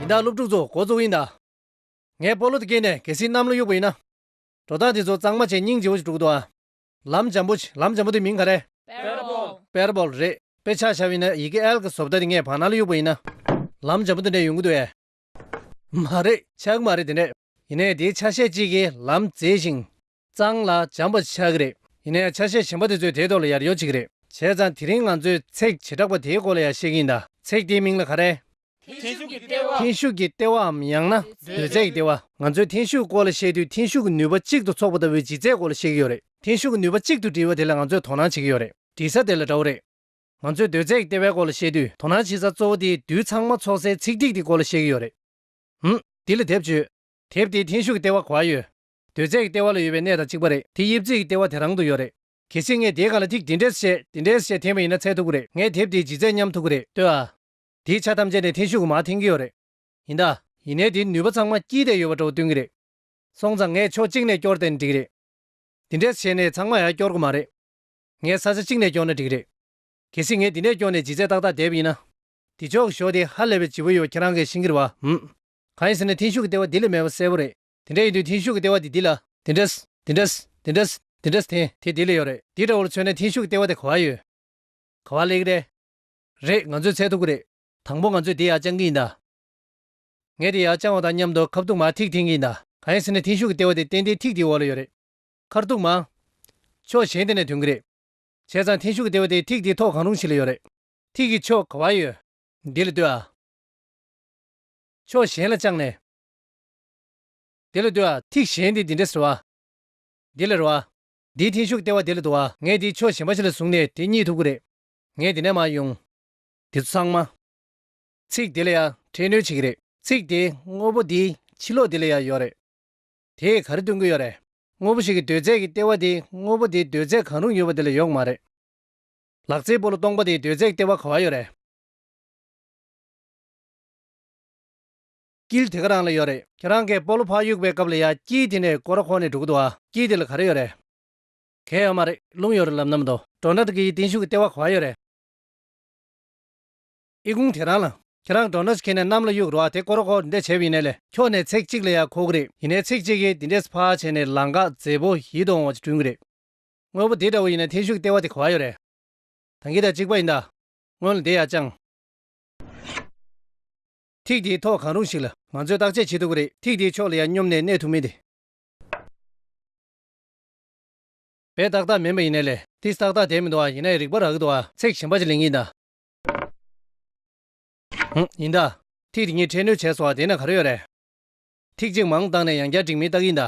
ཡིན་ད་སློབ་ཕྲུག་ཚོ་གོ་ཚོ་ཡིན་ད། ངས་སྤོ་ལོ་དེ་སྐྱེལ་ནས་གལ་སྲིད་གནམ་ལོ་གཡུག་པ་ཡིན་ན། འགྲོ་སྟངས་དེ་ཚོ་གཙང་མ་བྱས་སྙིང་རྗེ་བོ་ཞིག་དཀྲུག་འདུག་ཨ། ལམ་འཇམ་པོ་ཞིག་ལམ་འཇམ་པོ་དེ་མིང་ག་རེད། Parable Parable རེད་དཔེ་ཆ་ཆ་བིན་ན་ཡི་གེ L གི་བཟོ་བལྟ་དེ་ངས་བག་ན་ལོ་གཡུག་པ་ཡིན་ན། ལམ་འཇམ་པོ་དེ་འདྲས་ཡོང་གི་འདུག་ཨེ། མ་རེད་ཆག་གི་མ་རེད་དེ་འདྲས། ཡིན་ནའི་དེའི་ཆ་ཤས་གཅིག་གིས་ལམ་བཙལ་ཞིང། གཙང་ལ་འཇམ་པ་ཆགས་ཀྱི་རེད། ཡིན་ན་ཡང་ཆ་ཤས་གཞན་པ་དེ་ཚོས་དེའི་ཐོག་ལ་ཡར་ཡོད་བྱེད་ཀྱི་རེད། བྱས་ཙང་དེ་རིང་ང་ཚོས་ཚེག་བྱེ་བྲག་པ་དེའི་སྐོར་ལ་ཡང་བཤད་ཀྱི་ཡིན་ད། ཚེག་དེའི་མིང་ལ་ག་རེད། འཐེན་ཤུགས་ཀྱི་ལྟེ་བ། འཐེན་ཤུགས་ཀྱི་ལྟེ་བའམ་ཡང་ན་སྡོད་ཚད་ཀྱི་ལྟེ་བ། ང་ཚོས་འཐེན་ཤུགས་སྐོར་ལ་བཤད་དུས་འཐེན་ཤུགས་ཀྱི་ནུས་པ་གཅིག་ཏུ་ཚོགས་པ་ལྟ་བུའི་ལྗིད་ཚད་སྐོར་ལ་བཤད་ཀྱི་ཡོད་རེད། འཐེན་ཤུགས་ཀྱི་ནུས་པ་གཅིག་ཏུ་སྒྲིལ་བ་དེ་ལ་ང་ཚོས་དོ་སྣང་བྱེད་ཀྱི་ཡོད་རེད། སྒྲིལ་ས་དེ་ལ་འདྲ་བོ་རེད། ང་ཚོས་སྡོད་ཚད་ཀྱི་ལྟེ་བའི་སྐོར་ལ་བཤད་དུས་དོ་སྣང་བྱེད་ས་གཙོ་བོ་དེ་རྡུལ་ཚང་མ་ཚོགས་སའི་ཚེག་ཐིག་དེ་སྐོར་ལ་བཤད་ཀྱི་ཡོད་རེད། འོན། འདི་ལ་དེབ་བཅོས། དེབ་དེའི་འཐེན་ཤུགས་ཀྱི་ལྟེ་བ་གོ་ཨ་ཡོད། དོལ་རྩེད་ཀྱི་ལྟེ་བ་ལ་ཡོད་པའི་གནས་དང་གཅིག་པ་རེད་དེ་དབྱིབས་རྩེད་ཀྱི་ལྟེ་བ་དེ་རང་དུ་ཡོད་རེད། གལ་སྲིད་ངས་དེའི་སྒང་ལ་ཐིག་འདི་འདྲས་བཤད་འདི་འདྲས་བཤད་འཐེན་པ་ཡིན་ན་ཚད་ཐུག་གི་རེད་ངས་དེབ་དེའི་ལྗིད་ཚད་མཉམ་ཐུག་གི་རེད་ལྟོས་ཨ། དེའི་ཆ་ཐམས་ཅད་ནས་འཐེན་ཤུགས་གོ་མ་འཐེན་གྱི་ཡོད་རེད། ཡིན་ད། ཡིན་ནའི་དེའི་ནུས་པ་ཚང་མ་དཀྱིལ་དེ་ཡོད་པ་འདྲ་བོ་སྟོན་གྱི་རེད། སོང་ཙང་ངས་ཕྱོགས་གཅིག་ནས་སྐྱོར་དེ་ནི་འགྲིག་རེད། འདི་འདྲས་བྱས་ནས་ཚང་མ་ཡར་སྐྱོར་གི་མ་རེད། ངས་ས་ཆ་གཅིག་ནས་སྐྱོར་ན་འགྲིག་རེད། གལ་སྲིད་ངས་འདི་ནས་སྐྱོར་ནས་ལྗིད་ཚད་ཏག་ཏག་དེབ་ཡིན་ན། འདི་ཆོག་གི་ཞོ་དེ་ཧ་ལས་པའི་ལྗིད་པོ་ཡོད་ཁྱེད་རང་གས་ཤིང་གི་རེད་བ། འམ། གང་ཡིན་ཟེར་ན་འཐེན་ཤུགས་ཀྱི་ལྟེ་བ་འདི་ལས་མེད་པ་གསལ་པོ་རེད། དེ་འདྲ་ཡིན་དུས་མཐིང་ཤུགས་ཀྱི་ལྟེ་བ་དེ་འདི་ལ། དེ་འདྲ། དེ་འདྲ། དེ་འདྲ། དེ་འདྲ། དེ། དེ་འདི་ལ་ཡོད་རེད། འདི་འདྲ་བོར་མཚོན་ན་མཐིང་ཤུགས་ཀྱི་ལྟེ་བ་དེ་ག་བར་ཡོད། ག་བར་ལེགས་རེད། རེད། ང་ཚོས་འཚལ་ཐུབ་ཀྱི་རེད། དང་པོ་ང་ཚོས་དེ་ཡར་བཅང་གི་ཡིན་ད། ངས་དེ་ཡར་བཅང་བ་དང་མཉམ་དུ་ཁ་བཏུགས་མ་ཐིག་འཐེན་གྱི་ཡིན་ད། གང་ཡིན་ཟེར་ན་མཐིང་ཤུགས་ཀྱི་ལྟེ་བ་དེ་ཏན་ཏན་ཐིག་དེའི་འོག་ལ་ཡོད་རེད། ཁར་གཏུགས་མ། ཕྱོགས་གཞན་དེ་ནས་དོན་གྱི་རེད། བྱས་ཙང་མཐིང་ཤུགས་ཀྱི་ལྟེ་བ་དེ་ཐིག་དེའི་ཐོག་གང་རུང་ཞིག་ལ་ཡོད་རེད། ཐིག་གི་ཕྱོགས་ག་བར་ཡོད། འདི་ལ་ལྟོས་ཨ། ཕྱོགས་གཞན་ལ་བཅངས་ནས། དེ་ལ་འདུ་བ། ཐིག་གཞན་དེ་འདི་འདྲ་ཟེར་བ། འདི་ལ་རོ་བ། འདིའི་མཐིང་ཤུགས་ལྟེ་བ་དེ་ལ་འདུ་བ། ངས་འདིའི་ཕྱོགས་གཞན་པ་ཕྱི་ལ་བཟུང་ནས་དེ་གཉིད་ཐུབ་ཀི་རེད། ངས་འདི་ནས་མར་དབྱུང། འདི་ཚང་མ། ཚིག་དེ་ལ་ཡང་འཕྲལ་གནོད་བྱེད་ཀི་རེད། ཚིག་དེའི་དངོས་པོ་འདིའི་ཕྱི་ལོགས་འདི་ལ་ཡང་ཡོད་རེད། དེས་ག་རེ་སྟོན་གི་ཡོད་རེད། དངོས་པོ་ཞིག་གི་འདོད་རྫས་ཀྱི་ལྟེ་བ་དེའི་དངོས་པོ་དེའི་འདོད་རྫས་གང་རུང་ཡོད་པ་དེ་ལ་ཡོད་གི་མ་རེད། ལག་རྩེད་སྤོ་ལོ་སྟོང་པ་དེའི་འདོད་རྫས་ཀྱི་ལྟེ་བ་ག་བ་ཡོད་རེད། དཀྱིལ་དེ་ག་རང་ལ་ཡོད་རེད། ཁྱེད་རང་གས་སྤོ་ལོ་ཕག་གཡུག་པའི་སྐབས་ལ་ཡ་དཀྱིལ་དེ་ནས་སྐོར་ཁོ་ནས་འགྲོ་གི་འདུག་ཨ་དཀྱིལ་དེ་ལ་ག་རེ་ཡོད་རེད། གས་ཡོད་མ་རེད་རླུང་ཡོད་རེད་ལབ་ནམ་འདུག་འགྲོ་འདྲ་འདུག་གས་ཡི་དིང་ཤུག་གི་ལྟེ་བ་ག་ཡོད་རེད། ཨི་ཁུང་དེ་རང་ལ། ཁྱེད་རང་འགྲོ་འདྲ་ཞིག་གས་ནས་གནམ་ལ་གཡུག་རོགས་ཨ་དེ་སྐོར་རོགས་ཁོ་འདྲས་བྱས་པ་ཡིན་ནས་ལས་ཁྱོ་ནས་ཚེག་གཅིག་ལ་ཡ་ཁོ་གི་རེད་ཡིན་ནས་ཚེག་གཅིག་གས་དེ་འདྲས་ཕག་བྱས་ནས་ལང་གག་མཛེས་པོ་ཡིད་དུ་འོང་བ་ཅིག་བསྐྲུན་གི་རེད། དངོས་པོ་དེ་འདྲ་བོ་ཡིན་ནས་དིང་ཤུག་གི་ལྟེ་བ་དེ་ག་ཡོད་རེད། ད་འགི་དང་གཅིག་པ་ཡིན་ད། སྔོན་ལ་འདི་ཡ་ཅང། ཐིག་དེའི་ཐོག་གང་རུང་ཞིག་ལ་ང་ཚོས་བརྟག་དཔྱད་བྱེད་ཐུབ་ཀྱི་རེད། ཐིག་དེའི་ཕྱོགས་ལ་ཡང་སྙོམ་ནས་གནས་ཐུབ་མིན་དེ། བས་ཏག་ཏག་མིན་པ་ཡིན་ནའི་ལས། ཏིས་ཏག་ཏག་དེ་མི་འདུག་ཨ་ཡིན་ནའི་རིག་པ་རག་གི་འདུག་ཨ། ཚེག་གཞན་པ་ཅིག་ལེན་གྱི་ཡིན་ད། ཡིན་ད། ཐིག་དེ་གཉིས་འཕྲད་ནུས་བྱས་སོང་ཨ་དེ་ན་ག་རེ་ཡོད་རེད། ཐིག་གཅིག་མང་བཏང་ནས་ཡང་བསྐྱར་འགྲིག་མིན་བརྟག་གི་ཡིན་ད།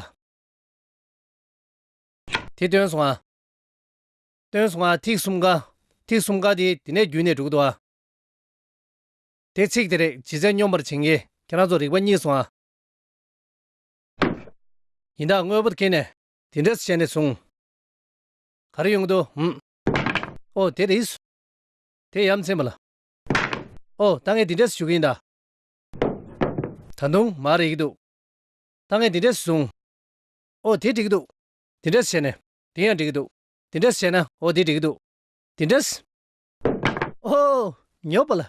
དེ་བཏོན་སོང་ཨ། བཏོན་སོང་ཨ་ཐིག་གསུམ་ཀ། ཐིག་གསུམ་ཀ་དེ་དེ་ནས་བརྒྱུད་ནས་འགྲོ་གི་འདུག་ཨ། དེ་ཚིག་དེ་རེག་བྱེད་ཚད་སྙོམས་པར་བྱེད་ངེས་ཁྱེད་རང་ཚོ་རིག་པ་གཉིས་སུ་འང། ཡིན་དྭགས་དངོས་པོར་ཁེན་ནས། དེ་འདྲ་བྱས་ནས་བཟུང། ག་རེ་ཡོང་གི་འདུག་ཧུམ། ཨོ་དེ་རེད། དེ་ཡ་མཚན་པ་ལ། ཨོ་ད་ངས་དེ་འདྲས་ཞུ་གི་ཡིན་ད། ད་དུང་མ་རེག་གི་འདུག། ད་ངས་དེ་འདྲས་བཟུང། ཨོ་དེ་འགྲིག་གི་འདུག། དེ་འདྲས་བྱས་ནས། དེ་ཡང་འགྲིག་གི་འདུག། དེ་འདྲས་བྱས་ན། ཨོ་དེ་འགྲིག་གི་འདུག། དེ་འདྲས། ཨོ། ཉོབ་པ་ལ།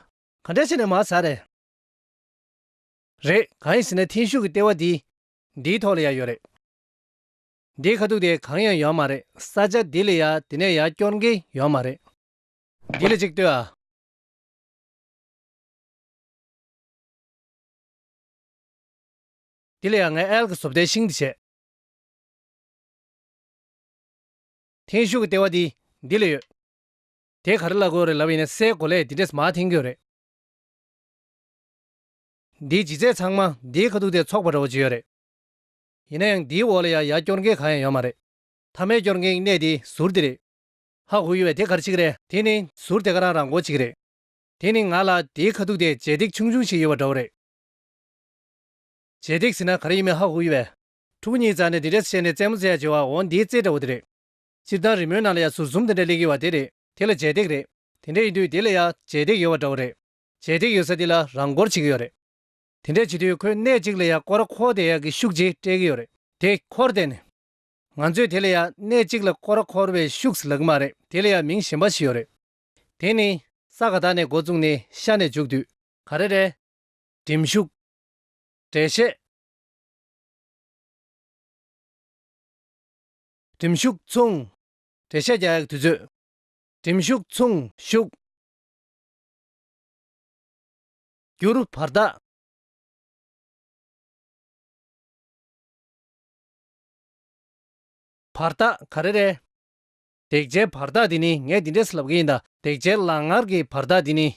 ག་འདྲ་བྱས་ནས་མར་ཟ་རེད། རེད། གང་ཡིན་ཟེར་ན་འཐེན་ཤུགས་ཀྱི་ལྟེ་བ་འདི། འདིའི་ཐོག་ལ་ཡང་ཡོད་རེད། འདིའི་ཁ་ཐུག་དེ་གང་ཡང་ཡོད་མ་རེད། ས་ཆ་འདི་ལ་ཡང་དེ་ནས་ཡང་སྐྱོར་མཁན་ཡོད་མ་རེད། འདི་ལ་ཅིག་ལྟོས་ཨ། འདི་ལ་ཡང་ངས་ཨལ་གྱི་བཟོ་བལྟའི་ཤིང་འདི་བྱས། འཐེན་ཤུགས་ཀྱི་ལྟེ་བ་འདི་འདི་ལ་ཡོད། དེ་ག་རེ་བླ་གོས་རེད་ལབ་ཡིན་ན་སའི་གོ་ལས་འདི་འདྲས་མ་འཐེན་གྱོ་རེད། འདིའི་ལྗིད་ཚད་ཚང་མ་འདིའི་ཁ་ཐུག་དེ་ཚོགས་པ་འདྲ་བོ་ཅིག་ཡོད་རེད། ཡིན་ན་ཡང་འདིའི་འོག་ལ་ཡ་ཡ་སྐྱོར་མཁན་གང་ཡང་ཡོད་མ་རེད། མཐའ་མའི་སྐྱོར་མཁན་གྱི་གནས་དེ་ཟུར་འདི་རེད། ཧ་གོ་གི་བས་དེ་ག་རེ་ཆིག་རེད། དེ་ནི་ཟུར་དེ་ག་རང་རང་གོ་ཅིག་རེད། དེ་ནི་ང་ལ་འདིའི་ཁ་ཐུག་དེ་ལྗེས་འདེགས་ཆུང་ཆུང་ཞིག་ཡོད་པ་འདྲ་བོ་རེད། ལྗེས་འདེགས་ཟེར་ན་ག་རེ་ཡིན་མིན་ཧ་གོ་གི་བས། ཕྲུ་གུ་གཉིས་བཙའ་ནས་འདི་འདྲས་བཤད་ནས་བཙས་མོ་བཙས་ཡ་བྱེད་བའོ་འདིའི་བཙས་འདྲ་བོ་དེ་རེད། སྤྱིར་བཏང་རི་མོའི་ནང་ལ་ཡང་ཟུར་གསུམ་དེ་འདྲ་སླེབས་ཡོད་བ་དེ་རེད། དེ་ལ་རྗེས་འདེགས་རེད། དེ་འདྲ་ཡིན་དུས་དེ་ལ་ཡང་རྗེས་འདེགས་ཡོད་བ་འདྲ་བོ་རེད། རྗེས་འདེགས་ཡོད་ས་དེ་ལ་རང་སྐོར་བྱེད་ཀྱི་ཡོད་རེད། དེ་འདྲ་བྱེད་དུས་ཁོས་གནས་གཅིག་ལ་ཡང་སྐོར་ར་འཁོར་དེ་ཡག་གི་ཤུགས་ཀྱིས་སྤྲད་ཀྱི་ཡོད་རེད། དེ་འཁོར་བསྡད་ནས། ང་ཚོས་དེ་ལ་ཡང་གནས་གཅིག་ལ་སྐོར་ར་འཁོར་བའི་ཤུགས་ལ་གི་མ་རེད་དེ་ལ་ཡང་མིང་གཞན་པ་ཞིག་ཡོད་རེད། དེ་ནི། ས་ག་དག་ནས་མགོ་བཙུགས་ནས་ཤར་ནས་འཇུག་དུས། ག་རེ་རེད། འགྲིམ་ཤུགས། འགྲེལ་བཤད། གྲིམ་ཤུགས་མཚུངས། བྲེ་ཤ་རྒྱག་དུས་ཚོད། གྲིམ་ཤུགས་མཚུངས་ཤུགས། བསྒྱུར་བར་གདའ། བར་གདའ་ག་རེ་རེད། དེག་ཆའི་བར་གདའ་དེ་ནི་ངས་འདི་འདྲས་ལབ་གི་ཡིན་ད། དེག་ཆའི་ལག་ངར་གྱི་བར་གདའ་དེ་ནི།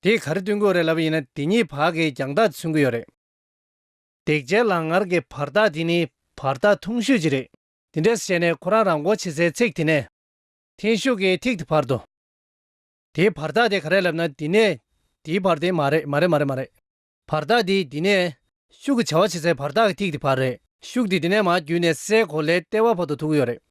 དེས་ག་རེ་སྟོན་གི་རེད་ལབ་པ་ཡིན་ན་དེ་གཉིས་བར་གྱི་རྒྱང་ཐག་མཚོན་གི་ཡོད་རེད། འདེགས་འཇལ་ལག་ངར་གྱི་བར་ཐག་དེ་ནི་བར་ཐག་ཐུང་ཤོས་ཅིག་རེད། དེ་འདྲས་བྱས་ནས་ཁོ་རང་རང་མགོ་ཕྱེ་སའི་ཚིག་དེ་ནས། འཐེན་ཤུགས་ཀྱི་ཐིག་དེ་བར་དུ། དེའི་བར་ཐག་དེ་ག་རེད་ལབ་ན་འདི་ནས་འདིའི་བར་དེ་མ་རེད་མ་རེད་མ་རེད་མ་རེད། བར་ཐག་དེ་འདི་ནས། ཤུགས་ཀྱི་བྱ་བ་བྱེད་སའི་བར་ཐག་གི་ཐིག་དེ་བར་རེད། ཤུགས་དེ་འདི་ནས་མར་བརྒྱུད་ནས་སའི་གོ་ལའི་ལྟེ་བ་བར་དུ་འཐུག་གི་ཡོད་རེད།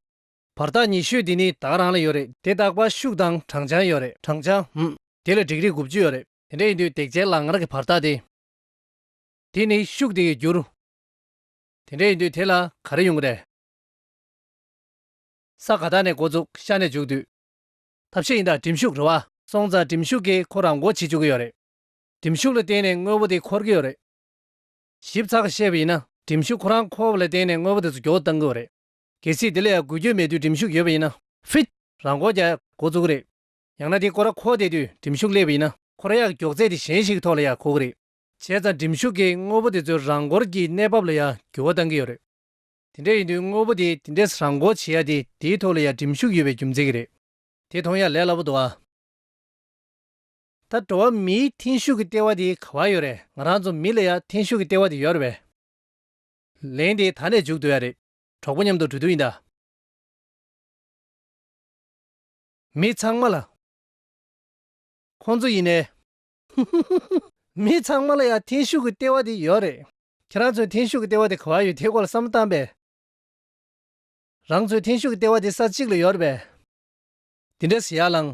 བར་ཐག་ཉི་ཤུ་དེ་ནི་དྭགས་རང་ལ་ཡོད་རེད། དེ་དྭགས་པ་ཤུག་དང་བགྲང་བྱང་ཡོད་རེད། བགྲང་བྱང་འམ། དེ་ལ་འགྲིག་རིགས་དགུ་བཅུ་ཡོད་རེད། དེ་འདྲ་ཡིན་དུས་བརྡེག་བྱའི་ལག་ངར་གྱི་བར་ཐག་དེ། དེ་ནི་ཤུག་དེ་ཡི་འགྱུར། དེ་འདྲ་ཡིན་དུས་དེ་ལ་ག་རེ་ཡོང་གི་རེད། ས་ག་དག་ནས་འགོ་བཙུགས་ཤར་ནས་འཇུག་དུས། ཐབས་ཤེས་ཡིན་དྭགས་གྲིམ་ཤུག་རུ་བ། སོང་ཙང་གྲིམ་ཤུག་གིས་ཁོ་རང་འགོ་བྱེད་བཅུག་གི་ཡོད་རེད། གྲིམ་ཤུག་ལ་བརྟེན་ནས་དངོས་པོ་དེ་འཁོར་གི་ཡོད་རེད། ཞིབ་ཚགས་བཤད་པ་ཡིན་ན་གྲིམ་ཤུག་ཁོ་རང་འཁོར་བ་ལ་བརྟེན་ནས་དངོས་པོ་དེ་ཚོ་འགྱོགས་བཏང་གི་ཡོད་རེད། གལ་སྲིད་དེ་ལས་འགུལ་སྐྱོད་མེད་དུས་འགྲིམ་ཤུགས་ཡོད་པ་ཡིན་ན། ཧྥིད། རང་མགོ་རྒྱ། འགོ་བཙུགས་གི་རེད། ཡང་ན་དེ་ཀོ་ར་ཁོག་བསྡད་དུས་འགྲིམ་ཤུགས་སླེབས་པ་ཡིན་ན། ཁོ་ར་ཡག་མགྱོགས་ཚད་དེ་གཞན་ཞིག་གི་ཐོག་ལ་ཡག་གོ་གི་རེད། བྱས་ཙང་འགྲིམ་ཤུགས་ཀྱིས་དངོས་པོ་དེ་ཚོའི་རང་འགོར་གྱི་གནས་བབ་ལ་ཡང་འགྱུར་བ་གཏང་གི་ཡོད་རེད། དེ་འདྲ་ཡིན་དུས་དངོས་པོ་དེ་དེ་འདྲས་རང་འགོ་བྱེད་ཡག་དེ་དེའི་ཐོག་ལ་ཡང་འགྲིམ་ཤུགས་ཡོད་པའི་རྒྱུ་མཚན་གྱི་རེད། དེ་མཐོང་ཡག་ལས་སླ་པོ་འདུག་ཨ། ད་འགྲོ་བ་མིའི་འཐེན་ཤུགས་ཀྱི་ལྟེ་བ་དེ་ག་བར་ཡོད་རེད་ང་རང་ཚོ་མི་ལ་ཡང་འཐེན་ཤུགས་ཀྱི་ལྟེ་བ་དེ་ཡོད་རེད་བས། ལན། དེ་ད་ནས་འཇུག་འདོད་ཡག་རེད། གྲོགས་པོ་མཉམ་དུ་འགྲོ་དུས་ཡིན་ད། མི་ཚང་མ་ལ། ཁོང་ཚོ་ཡིན་ནའི། ཧི་ཧི་ཧི་ཧི། མི་ཚང་མ་ལ་ཡང་འཐེན་ཤུགས་ཀྱི་ལྟེ་བ་དེ་ཡོད་རེད། ཁྱེད་རང་ཚོའི་འཐེན་ཤུགས་ཀྱི་ལྟེ་བ་དེ་ག་བར་ཡོད་དེའི་སྐོར་ལ་བསམ་བློ་བཏང་པས། རང་ཚོའི་འཐེན་ཤུགས་ཀྱི་ལྟེ་བ་དེ་ས་གཅིག་ལ་ཡོད་རེད་པས། འདི་འདྲ་ཟེར་ཡག་ལང།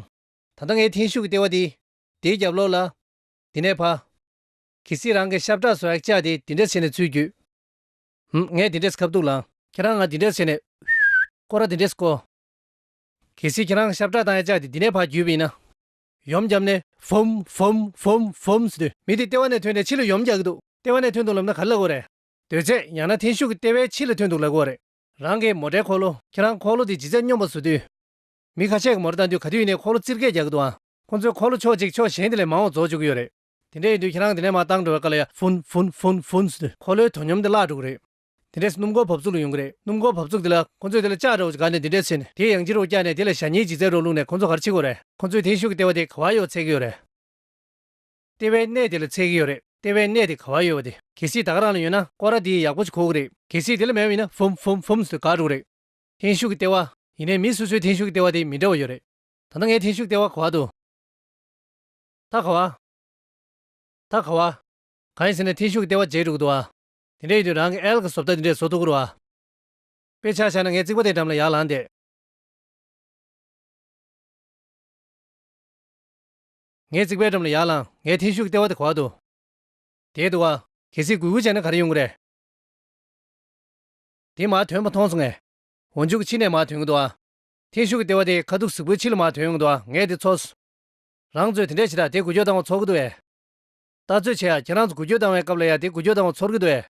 ད་ལྟ་ངའི་འཐེན་ཤུགས་ཀྱི་ལྟེ་བ་དེ། དེའི་རྒྱབ་ལོགས་ལ། དེ་ནས་བ། གི་སི་རང་གི་ཤ་བཀྲག་སོ་ཡག་བཅག་དེ་དེ་འདྲ་བྱས་ནས་ཚུད་རྒྱུད། ཧུམ། ངས་འདི་འདྲས་ཁ་བཏུགས་ལ། ཁྱེད་རང་ང་འདི་འདྲས་བྱས་ནས། སྐོར་ར་འདི་འདྲས་བསྐོར། གལ་སྲིད་ཁྱེད་རང་ཞབས་བྲག་དང་ཡ་ཅག་དེ་འདི་ནས་བར་བརྒྱུད་པ་ཡིན་ན། ཡོམ་བརྒྱབ་ནས། བུམ། བུམ། བུམ། བུམ། ཟེར་དུས། མི་དེ་ལྟེ་བ་ནས་ཐོན་ནས་ཕྱི་ལ་ཡོམ་རྒྱག་གི་འདུག་ལྟེ་བ་ནས་ཐོན་འདུག་ལབ་ན་ག་ལ་སླ་གོ་རེད། རྡོས་བཅད་ཡང་ན་འཐེན་ཤུགས་ཀྱིས་ལྟེ་བའི་ཕྱི་ལ་ཐོན་འདུག་ལབ་གི་བ་རེད། རང་གི་མོ་འདྲའི་འཁོར་ལོ། ཁྱེད་རང་འཁོར་ལོ་དེ་ཇི་ཙམ་སྙོམས་པར་བཟོ་དུས། མི་ཁ་ཤས་ཀྱི་མོར་བལྟ་དུས་ག་དུས་ཡིན་ནའི་འཁོར་ལོ་རྩིར་སྐད་རྒྱག་གི་འདུག་ཨང། ཁོང་ཚོའི་འཁོར་ལོ་ཕྱོགས་གཅིག་ཕྱོགས་གཞན་དེ་ལས་མང་བ་བཟོ་བཅུག་གི་ཡོད་རེད། དེ་འདྲ་ཡིན་དུས་ཁྱེད་རང་དེ་ནས་མ་བཏང་འགྲོ་བའི་བཀའ་ལ་ཡ། ཧྥུན་ཧྥུན་ཧྥུན་ཧྥུན་ཟེར་དུས། འཁོར་ལོའི་དོ་སྙོམས་དེ་བརླག་འགྲོ་གི་རེད། དེ་འདྲས་སུ་སྣུམ་འཁོར་བབས་ཚུགས་ལ་ཡོང་གི་རེད། སྣུམ་འཁོར་བབས་ཚུགས་དེ་ལ་ཁོ་ཚོས་དེ་ལ་ལྕགས་རོགས་ཀྱི་སྒ་ནས་འདི་འདྲས་ཚུད་ནས་དེའི་ཡང་ལྕི་རོགས་བཀྱགས་ནས་དེ་ལ་ཞྭ་སྙིལ་གྱི་རྩལ་རོགས་བླུགས་ནས་ཁོ་ཚོ་ག་རེ་བྱེད་དགོས་རེད། ཁོ་ཚོས་དེའི་ཤུགས་ཀྱི་ལྟེ་བ་དེ་ག་བར་ཡོད་ཚད་ཀྱི་ཡོད་རེད། ལྟེ་བའི་གནས་དེ་ལ་ཚད་ཀྱི་ཡོད་རེད། ལྟེ་བའི་གནས་དེ་ག་བར་ཡོད་པ་དེ། གལ་སྲིད་ད་ག་རང་ལ་ཡོད་ན་སྐོར་ར་དེ་ཡག་པོ་ཅིག་ཁོག་གི་རེད། གལ་སྲིད་དེ་ལ་མེད་པ་ཡིན་ན་ཧྥུན་ཧྥུན་ཧྥུན་ཟེར་དུས་འགག་འགྲོ་གི་རེད། འཐེན་ཤུགས་ཀྱི་ལྟེ་བ། ཡིན་ནའི་མི་སོ་སོའི་འཐེན་ཤུགས་ཀྱི་ལྟེ་བ་དེ་མི་འདྲ་བ་ཡོད་རེད། ད་ལྟ་ངའི་འཐེན་ཤུགས་ལྟེ་བ་ག་བར་འདུག། ད་ག་བ། ད་ག་བ། གང་ཡིན་ཟེར་ན་ཐེངས་ཤུག་ལྟེ་བ་བརྗེས་འགྲོ་གི་འདུག་ཨ། དེ་འདྲ་ཡིན་དུས་རང་གི་ཨེལ་གི་བཟོ་བལྟ་འདི་འདྲས་བཟོ་ཐུབ་ཀི་རུག་ཨ། དཔེ་ཆ་བཞག་ན་ངས་རྩིག་པ་དེའི་འགྲམ་ལ་ཡར་ལངས་ཏེ། ངས་རྩིག་པའི་འགྲམ་ལ་ཡར་ལངས་ངས་ཐེངས་ཤུག་ལྟེ་བ་དེ་ག་བ་དུ། དེའི་འདུག་ཨ། གལ་སྲིད་གུ་གུ་བྱས་ན་ག་རེ་ཡོང་གི་རེད། དེ་མ་ཐོན་པ་མཐོང་སོང་ངས། འོ་མཇུག་ཕྱི་ནས་མ་ཐོན་གི་འདུག་ཨ། ཐེངས་ཤུག་ལྟེ་བ་དེ་ཁ་ཐུག་གཟུག་པོའི་ཕྱི་ལ་མ་ཐོན་ཡོང་གི་འདུག་ཨ་ངས་དེ་འཚོལ། རང་ཚོས་དེ་འདྲས་བྱེད་ད་དེ་འགུལ་སྐྱོད་བཏང་བ་ཚོར་གི་འདུག་བས། ད་ཚོད་ཆེ་ཡ་ཁྱེད་རང་ཚོ་འགུལ་སྐྱོད་བཏང་བའི་སྐབས་ལ་ཡ་དེ་འགུལ་སྐྱོད་བཏང་བ་ཚོར་གི་འདུག་བས།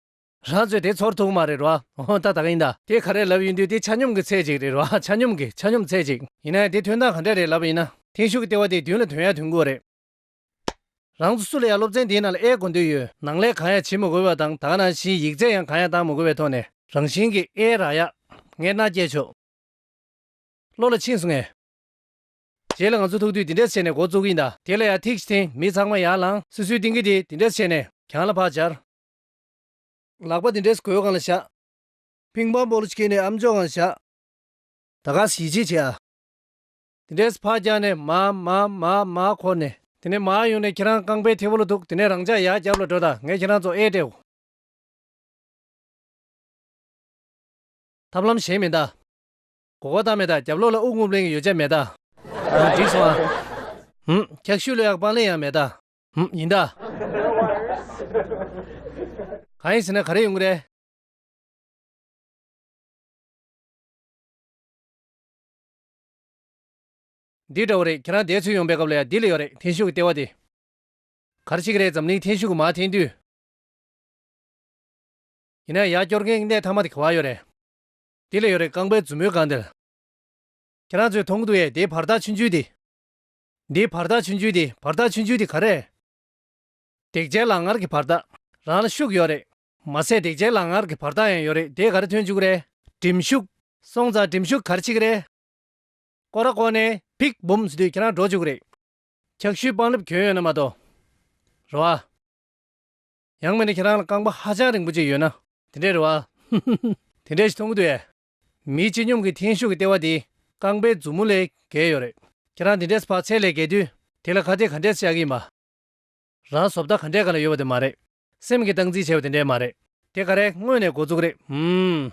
རང་ཚོས་དེ་ཚོར་ཐུག་གི་མ་རེད་རོ། ཨོ་ད་ད་ག་ཡིན་ད། དེ་ག་རེ་ལབ་ཡིན་དུས་དེ་ཆ་སྙོམས་ཀྱི་ཚད་ཅིག་རེད་རོ། ཆ་སྙོམས་ཀྱི་ཆ་སྙོམས་ཚད་ཅིག། ཡིན་ནའི་དེ་ཐོན་སྟངས་ག་འདྲས་རེད་ལབ་པ་ཡིན་ན། ཐེངས་ཤུག་གི་ལྟེ་བ་དེ་བདུན་ལ་དོན་ཡ་དོན་དགུ་བ་རེད། རང་ཚོ་སུ་ལ་ཡ་སློབ་ཚན་དེའི་ནང་ལ་ཨེ་གོ་འདོད་ཡོད། ནང་ལས་གང་ཡ་བྱེད་མི་དགོས་པ་དང་དང་ནང་བཞིན་ཡིག་ཚད་ཡང་གང་ཡ་བཏང་མི་དགོས་པའི་ཐོག་ནས། རང་བཞིན་གྱིས་ཨེ་རག་ཡ། ངས་མནའ་བསྐྱལ་ཆོག། བློ་ལ་ཕྱིན་སོང་ངས། དེ་ལ་ང་ཚོ་ཐུག་དུས་འདི་འདྲས་བྱས་ནས་འགོ་བཙུགས་གིན་གདའ། དེ་ལ་ཡང་ཐིག་ཅིག་འཐེན་མི་ཚང་མ་ཡར་ལངས། སུས་སུའི་སྟེང་གི་དེ་འདི་འདྲས་བྱས་ནས་གྱང་ལ་བག་སྦྱར། ལག་པ་འདི་འདྲས་གོས་གང་ལ་བཞག། ཕིང་པང་སྤོ་ལོ་ཅིག་གིན་ནས་ཨམ་ཅོག་གང་ལ་བཞག། ད་ག་ཟིག་ཞིག་བྱེད་ཨ། དེ་འདྲས་བག་བརྒྱག་ནས་མ་མ་མ་མ་འཁོར་ནས། དེ་ནས་མ་ཡོང་ནས་ཁྱེད་རང་རྐང་པའི་མཐེ་བོ་ལ་ཐུག་དེ་ནས་རང་ཅག་ཡར་རྒྱབ་ལ་འགྲོ་ད་ངས་ཁྱེད་རང་ཚོ་ཨེ་སྤྲད། ཐབས་ལམ་གཞན་མི་གདའ། གོ་བ་ད་མེད་ད་རྒྱབ་ལོགས་ལ་དབུགས་རྔུབ་ལེན་གྱི་ཡོ་བྱད་མེད་ད། ཨང་འགྲིག་སོང་ཨང། ཨང། འཁྱག་ཤུད་ལོས་ཡག་སྤང་ལེན་ཡང་མེད་ད། ཨང་ཡིན་ད། གང་ཡིན་ཟེར་ན་ག་རེ་ཡོང་གི་རེད། འདི་འདྲ་བོ་རེད་ཁྱེད་རང་འདས་ཚུལ་ཡོང་པའི་སྐབས་ལ་ཡང་འདི་ལ་ཡོད་རེད་འཐེན་ཤུགས་ཀྱི་ལྟེ་བ་དེ། ག་རེ་བྱེད་ཀྱི་རེད་འཛམ་གླིང་འཐེན་ཤུགས་ཀྱི་མ་འཐེན་དུས། ཡིན་ན་ཡང་སྐྱོར་མཁན་གྱི་གནས་ཐ་མ་དེ་ག་བ་ཡོད་རེད། དེ་ལས་ཡོད་རེད་རྐང་པའི་མཛུབ་མོའི་སྒང་དེར། ཁྱེད་རང་ཚོས་མཐོང་གི་འདུག་ཡེ་དེའི་བར་ཐག་ཆུང་ཆུང་དེ། འདིའི་བར་ཐག་ཆུང་ཆུང་དེ་བར་ཐག་ཆུང་ཆུང་དེ་ག་རེད། འདེགས་བྱའི་ལག་ངར་གྱི་བར་ཐག་རང་ལ་ཤུགས་ཡོད་རེད། མ་ཟད་འདེགས་བྱའི་ལག་ངར་གྱི་བར་ཐག་ཡང་ཡོད་རེད་དེས་ག་རེ་ཐོན་བཅུག་རེད། གྲིམ་ཤུགས། སོང་ཙང་གྲིམ་ཤུགས་གར་ཕྱིན་གྱི་རེད། ཀོ་ར་ཀོ་ནས་ཕིག་བུམ་ཟེར་དུས་ཁྱེད་རང་འགྲོ་བཅུག་གི་རེད། འཁྱགས་ཤུལ་པང་ལེབ་གྱོན་ཡོད་ན་མ་གཏོགས། རེ་བ། ཡང་མི་འདྲ་ཁྱེད་རང་ལ་རྐང་པ་ཧ་ཅང་རིང་པོ་གཅིག་ཡོད་ན། དེ་འདྲའི་རེད་བ། ཧི་ཧི་ཧི། དེ་འདྲའི་ཞིག་མཐོང་གི་འདུག་ཨེ། མི་སྤྱི་སྙོམས་ཀྱི་འཐེན་ཤུགས་ཀྱི་ལྟེ་བ་དེ་རྐང་པའི་མཛུབ་མོ་ལས་བརྒལ་ཡོད་རེད། ཁྱེད་རང་དེ་འདྲས་བག་ཚད་ལས་བརྒལ་དུས་དེ་ལ་ཁ་གཏད་ག་འདྲས་བཅག་གི་ཡིན་པ། རང་བཟོ་ལྟ་ག་འདྲས་ག་ལ་ཡོད་པ་དེ་མ་རེད། སེམས་ཀྱི་སྟངས་འཛིན་བྱས་པ་དེ་འདྲས་མ་རེད། དེ་ག་རེད་དངོས་ནས་འགོ་འཛུགས་རེད་ཧུམ།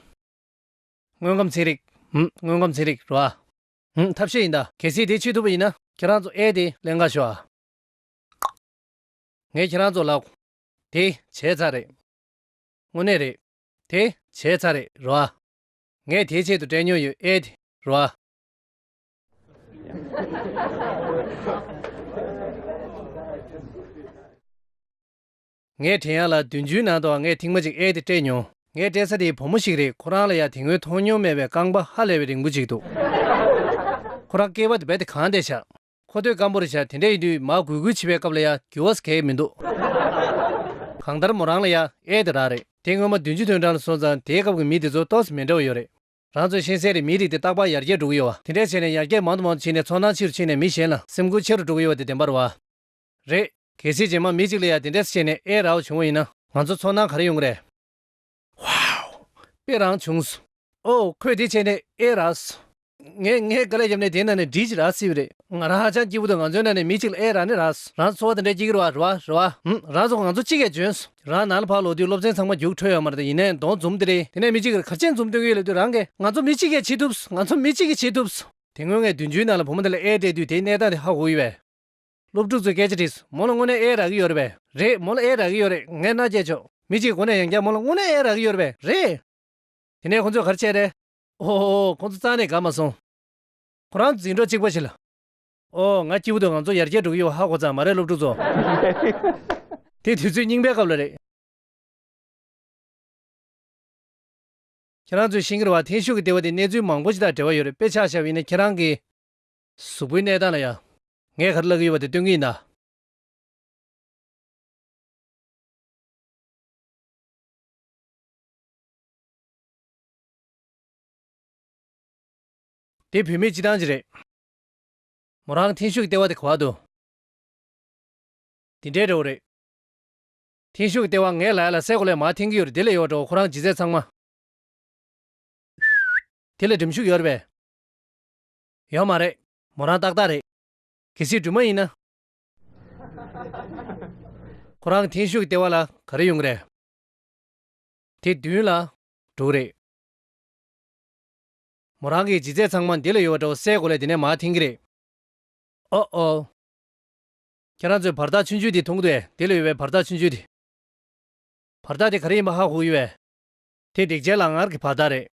དངོས་ཁམས་ཚན་རིག། ཧུམ་དངོས་ཁམས་ཚན་རིག་རེད་བ། ཧུམ་ཐབས་ཤེས་ཡིན་ད། གལ་སྲིད་དེ་བྱེད་ཐུབ་པ་ཡིན་ན། ཁྱེད་རང་ཚོ་ཨེ་དེ་ལས་འགའ་ཤོག་ཨ། ངས་ཁྱེད་རང་ཚོ་ལ། དེ་བྱས་ཚར་རེད། དངོས་གནས་རེད། དེ་བྱས་ཚར་རེད་རོ་ཨ། ངས་དེའི་ཆེད་དུ་དྲན་མྱོང་ཡོད་ཨེ་དེ་རོ་ཨ། ངས་དྲན་ཡ་ལ་བདུན་ཅུའི་ནང་དུའང་ངས་ཐིག་མ་གཅིག་ཨེ་དེ་སྤྲད་མྱོང། ངས་སྤྲད་ས་དེའི་བུ་མོ་ཞིག་རེད་ཁོ་རང་ལ་ཡང་དེ་སྔོན་མཐོང་མྱོང་མེད་པའི་རྐང་པ་ཧ་ལས་པའི་རིང་པོ་ཅིག་འདུག་ཁོ་རང་སྐྱེས་པ་དེ་བས་དེ་གང་བདེ་ཆགས། ཁོ་སྟོད་སྐམ་པོ་རེད་བྱ་དེ་འདྲས་ཡིན་དུས་མ་གུས་གུས་བྱེད་པའི་སྐབས་ལ་ཡང་འགྱུར་བ་ཟེར་གལ་མི་འདུག་གང་ལྟར་མོ་རང་ལ་ཡང་ཨེ་དེ་རག་རེད། དེ་སྔོན་མ་བདུན་ཅུ་དོན་གྲངས་ལ་སོང་ཙང་དེའི་སྐབས་ཀྱི་མི་དེ་ཚོ་ཏོག་ཙེ་མི་འདྲ་བ་ཡོད་རེད། རང་ཚོ་ཤེས་གསལ་རེད་མིའི་རིགས་དེ་རྟག་པར་ཡར་རྒྱས་འགྲོ་གི་ཡོད་བ། དེ་འདྲས་བྱས་ནས་ཡར་རྒྱས་མང་དུ་མང་དུ་ཕྱིན་ནས་ཚོར་སྣང་ཆེ་རུ་ཕྱིན་ནས་མི་གཞན་ལ་སེམས་ཁུར་ཆེ་རུ་འགྲོ་གི་ཡོད་བ་དེ་བདེན་པར་བ། རེད། གལ་སྲིད་རྗེས་མ་མི་གཅིག་ལ་ཡང་དེ་འདྲས་བྱས་ནས་ཨེ་རག་བ་བྱུང་བ་ཡིན་ན། ང་ཚོ་ཚོར་སྣང་ག་རེ་ཡོང་གི་རེད། Wow དཔེ་རང་བྱུང་སོ། ཨོ་ཁོས་དེ་བྱས་ནས་ཨེ་རག་སོ། ངས་ངའི་དཀའ་ལས་བརྒྱབ་ནས་དེའི་ནང་ནས་འབྲི་ཅིག་རག་སྲིད་པ་རེད། ང་རང་ཧ་ཅང་སྐྱིད་པོ་འདུག་ང་ཚོའི་ནང་ནས་མི་གཅིག་ལ་ཨེ་རག་ནི་རག་སོ། རང་འཚོ་བ་དེ་འདྲའི་སྐྱིད་ཀྱི་རེ་བ་རེ་བ་རེ་བ། ཧུམ་རང་ཚོ་ང་ཚོ་གཅིག་གས་འཇོན་སོ། རང་ནང་ལ་ཕར་ལོག་དུས་སློབ་ཚན་ཚང་མ་རྒྱུགས་འཕྲོད་ཡོད་མ་རེད་དེ་ཡིན་ནའི་མདོག་འཛུམ་དེ་རེད་དེ་ནས་མི་གཅིག་གིས་གར་ཆེན་འཛུམ་སྟོན་གྱི་ཡོད་ལབ་དུས་རང་གས་ང་ཚོ་མི་གཅིག་གས་བྱེད་ཐུབ་སོ་ང་ཚོ་མི་གཅིག་གིས་བྱེད་ཐུབ་སོ། དེ་སྔོན་ངས་བདུན་ཅུའི་ནང་ལ་བུ་མོ་དེ་ལ་ཨེ་སྤྲད་དུས་དེའི་གནས་སྟངས་དེ་ཧ་གོ་གི་ཡོད་པས། སློབ་ཕྲུག་ཚོས་སྐད་ཆ་དྲིས། མོ་ལ་དངོས་གནས་ཨེ་རག་གི་ཡོད་རེད་པས། རེད། མོ་ལ་ཨེ་རག་གི་ཡོད་རེད། ངས་མནའ་བསྐྱལ་ཆོག། མི་གཅིག་གོ་ནས་ཡང་བསྐྱར་མོ་ལ་དངོས་གནས་ཨེ་རག་གི་ཡོད་རེད་པས། རེད། དེ་ནས་ཁོ་ཚོས་གར་ཆས་རེད། ཨོ། ཁོ་ཚོ་རྩ་ནས་དགའ་མ་སོང། ཁོ་རང་འཛིང་གྲོགས་གཅིག་པ་ཞིག་ལ། ཨོ། ང་སྐྱིད་པོ་འདུག་ང་ཚོ་ཡར་རྒྱས་འགྲོ་གི་ཡོད་ཧ་གོ་ཙང་མ་རེད་སློབ་ཕྲུག་ཚོ། དེ་དུས་ཚོད་རྙིང་པའི་སྐབས་ལ་རེད། ཁྱེད་རང་ཚོས་ཤིང་ཀེར་བ་ཐེངས་ཤུག་གི་ལྟེ་བ་དེ་གནས་ཚུལ་མང་པོ་ཞིག་དང་འབྲེལ་བ་ཡོད་རེད་པས་ཆགས་ཞབས་ཡིན་ན་ཁྱེད་རང་གིས། གཟུགས་པོའི་གནས་དག་ལ་ཡང། ངས་གར་བླག་གི་ཡོད་པ་དེ་སྟོན་གི་ཡིན་ན། དེ་བུད་མེད་སྤྱི་སྟངས་ཅིག་རེད། མོ་རང་ཐེངས་ཤུག་སྟེར་བ་དེ་ག་བར་དུ། འདི་འདྲའི་འདྲ་བོ་རེད། ཐེངས་ཤུག་སྟེར་བ་ངའི་ལ་ཡ་ལ་སའི་གོ་ལའི་མར་འཐེན་གི་ཡོད་རེད་དེ་ལས་ཡོད་འདྲ་བོ་ཁོ་རང་ཇི་མཛད་ཚང་མ། དེ་ལས་འགྲིམ་ཤུག་ཡོད་རེད་པས། ཡོད་མ་རེད། མོ་རང་ཏག་ཏག་རེད། གལ་སྲིད་སྦྲུམ་མ་ཡིན་ན། ཁོ་རང་གི་འཐེན་ཤུགས་ཀྱི་ལྟེ་བ་ལ་ག་རེ་ཡོང་གི་རེད། དེ་བདུན་ལ་དྲུག་རེད། མོ་རང་གི་ལྗིད་ཚད་ཚང་མ་འདི་ལ་ཡོད་པ་འདྲ་བོ་སའི་གོ་ལའི་འདི་ནས་མར་འཐེན་གི་རེད། ཨོ་ཨོ། ཁྱེད་རང་ཚོས་བར་ཐག་ཆུང་ཆུང་དེ་མཐོང་གི་འདུག་འདི་ལ་ཡོད་པའི་བར་ཐག་ཆུང་ཆུང་དེ། བར་ཐག་དེ་ག་རེ་ཡིན་པ་ཧ་གོ་གི་ཡོད། དེ་འདེགས་བྱེད་ལག་ངར་གྱི་བར་ཐག་རེད།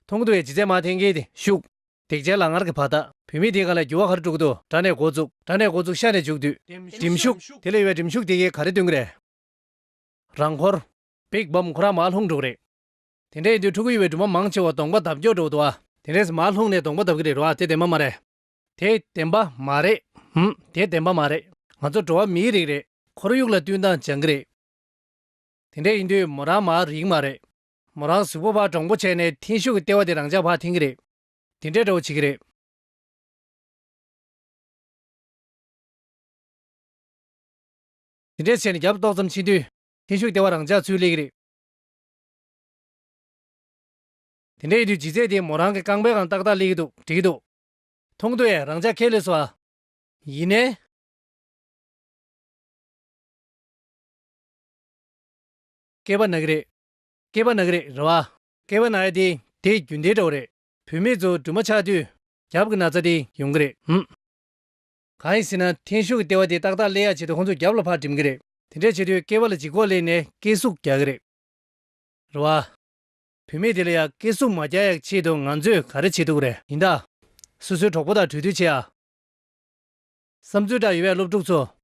ཐུང་དུ་བའི་ལྗིད་ཚད་མ་ཐེངས་གིས་དེ་ཤུགས། དེག་ཆེན་ལ་ངར་གྱི་བ་ལྟ། བུད་མེད་དེ་ག་ལ་རྒྱུ་བ་གར་དཀྲུག་དུ་དགྲ་ནས་འགོ་བཙུགས་དགྲ་ནས་འགོ་བཙུགས་ཤ་ནས་འཇུག་དུས། གྲིམ་ཤུགས། དེ་ལས་ཡོལ་བའི་གྲིམ་ཤུགས་དེ་གིས་ག་རེ་བསྟུན་གི་རེད། རང་འཁོར། བིག་སྦོམ་ཁོ་རང་མར་ལྷུང་འགྲོ་གི་རེད། དེ་འདྲའི་དུས་ཕྲུ་གུ་ཡོད་པའི་སྦྲུམ་མ་མང་ཆེ་བ་གདོང་པ་འདབ་སྐྱོར་འགྲོ་འདུག་ཨ། དེ་འདྲས་སུ་མར་ལྷུང་ནས་གདོང་པ་འདབ་གི་རེད་རོ་ཨ་དེ་བདེན་པ་མ་རེད། དེ་བདེན་པ་མ་རེད། ཧུམ། དེ་བདེན་པ་མ་རེད། ང་ཚོ་འགྲོ་བ་མིའི་རིགས་རེད། ཁོར་ཡུག་ལ་བསྟུན་སྟངས་སྦྱང་གི་རེད། དེ་འདྲས་ཡིན་དུས་མོ་རང་མར་རིགས་མ་རེད། མོ་རང་གཟུགས་པོ་བག་དྲང་པོ་བྱས་ནས་འཐེན་ཤུགས་ཀྱི་ལྟེ་བ་དེ་རང་ཅག་བག་འཐེན་གྱི་རེད། དེ་འདྲས་འདྲ་བོ་བྱེད་ཀྱི་རེད། དེ་འདྲས་བྱས་ནས་རྒྱབ་ཏོག་ཙམ་ཕྱིན་དུས། འཐེན་ཤུགས་ཀྱི་ལྟེ་བ་རང་ཅག་ཚུར་སླེབས་ཀྱི་རེད། དེ་འདྲས་ཡིན་དུས་ལྗིད་ཚད་དེ་མོ་རང་གི་རྐང་པའི་སྒང་ཏག་ཏག་སླེབས་ཀྱི་འདུག་བྲིས་ཀྱི་འདུག། མཐོང་དུས་ཨེ་རང་ཅག་ཁས་ལེན་སོང་ཨ། ཡིན་ནའི། སྐེད་པ་ན་གི་རེད། སྐྱེས་པ་ན་གི་རེད་རེད་བ། སྐྱེས་པ་ན་ཡ་དེ་དེ་རྒྱུན་དེ་འདྲ་བོ་རེད། བུད་མེད་ཚོ་འབྲུ་མ་ཆགས་དུས་རྒྱབ་ཀྱི་ན་ཚ་དེ་ཡོང་གི་རེད་ཧུམ། གང་ཡིན་ཟེར་ན་འཐེན་ཤུགས་ཀྱི་ལྟེ་བ་དེ་ཏག་ཏག་བསླེ་ཡག་བྱེད་དུས་ཁོང་ཚོ་རྒྱབ་ལ་ཕར་འགྲིམ་གི་རེད། དེ་འདྲ་བྱེད་དུས་སྐྱེས་པ་ལ་ལྗིད་ཁོག་སླེབས་ནས་སྐེ་ཟུག་རྒྱག་གི་རེད་རེད་བ། བུད་མེད་དེ་ལ་ཡ་སྐེ་ཟུག་མ་རྒྱག་ཡག་ཆེད་དུ་ང་ཚོས་ག་རེ་བྱེད་ཐུབ་ཀི་རེད། ཡིན་ད། སོ་སོའི་གྲོགས་པོ་དང་གྲོས་བསྡུར་བྱེད་ཨ། བསམ་ཚུལ་འདྲ་ཡོད་པའི་སློབ་ཕྲུག་ཚོ།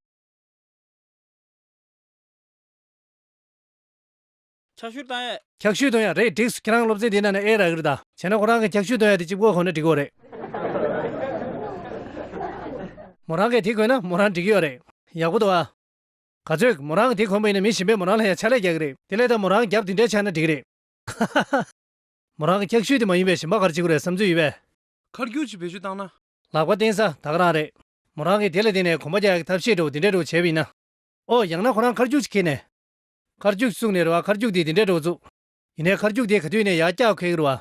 འཁྱག་ཤུད་བཏང་ཡ། འཁྱག་ཤུད་བཏང་ཡ་རེད་འགྲིགས་སོ་ཁྱེད་རང་སློབ་ཚན་དེ་ནང་ནས་ཨེ་རག་གི་རེད་ད། བྱས་ན་ཁོ་རང་གི་འཁྱག་ཤུད་བཏང་ཡ་དེ་གཅིག་བཀོལ་ཁོ་ན་འགྲིག་གོ་རེད། མོ་རང་གིས་དེ་བཀོལ་ན་མོ་རང་འགྲིག་གི་ཡོད་རེད། ཡག་པོ་འདུག་ཨ། ག་ཚོད་མོ་རང་གིས་དེ་གོན་པ་ཡིན་ན་མི་གཞན་པས་མོ་རང་ལ་ཡང་ཕྱག་ལས་རྒྱག་གི་རེད། དེ་ལས་ད་མོ་རང་རྒྱབ་དེ་འདྲ་ཆགས་ན་འགྲིག་གི་རེད། ཧ་ཧ་ཧ། མོ་རང་གི་འཁྱག་ཤུད་དེ་མ་ཡིན་པའི་ཞིམ་པ་གར་བྱེད་དགོས་རེད་བསམ་ཚུལ་ཡོད་པས། ཁར་རྒྱུག་ཅིག་བེད་སྤྱོད་བཏང་ན། ལག་པ་བསྟན་ས་དག་རང་རེད། མོ་རང་གིས་དེ་ལ་བརྟེན་ནས་གོམ་པ་རྒྱག་ཡ་གི་ཐབས་ཤེས་འདྲ་བོ་འདི་འདྲ་འདྲ་བོ་བྱས་པ་ཡིན་ན། ཨོ་ཡང་ན་ཁོ་རང་ཁར་རྒྱུག་ཅིག་ཁྱེར་ནས། ཁར་རྒྱུག་བཙུགས་ནས་རེད་བ་ཁར་རྒྱུག་དེ་དེ་འདྲས་འགྲོ་བཙུགས། ཡིན་ནའི་ཁར་རྒྱུག་དེ་ག་དུས་ནས་ཡག་སྐྱག་ཁེག་རེད་བ།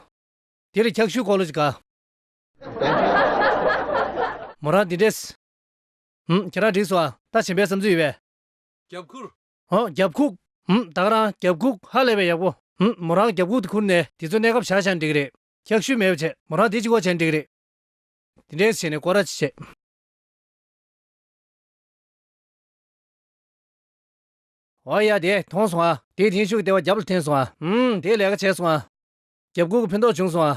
དེ་ལ་འཁྱག་ཤུལ་ཁོག་ལོ་ཅིག་ག། མོ་རང་དེ་འདྲས། ཧུམ་ཁྱེད་རང་འགྲིགས་སོང་ཨ། ད་བྱིན་པའི་བསམ་ཚུལ་ཡོད་བས། རྒྱབ་ཁུག། ཧོ་རྒྱབ་ཁུག། ཧུམ་བདག་རང་རྒྱབ་ཁུག་ཧ་ལས་པའི་ཡག་པོ། ཧུམ་མོ་རང་རྒྱབ་ཁུག་དེ་ཁུར་ནས་དེ་ཚོ་གནས་སྐབས་བྱ་བྱང་འགྲིགས་རེད། འཁྱག་ཤུལ་མེད་པ་བྱས་མོ་རང་དེ་ཅིག་ཨོ་བྱས་འགྲིགས་རེད། དེ་འདྲས་བྱས་ནས་སྐོར་ར་ཅིག་བྱས། འོ་ཡ་དེས་མཐོང་སོང་ཨ། དེས་དེང་ཤུགས་ལྟེ་བ་རྒྱབ་ལ་འཐེན་སོང་ཨ། ཧུམ་དེས་ལས་ཀ་བྱས་སོང་ཨ། རྒྱབ་ཁུག་གི་ཕུ་མདོག་བྱུང་སོང་ཨ།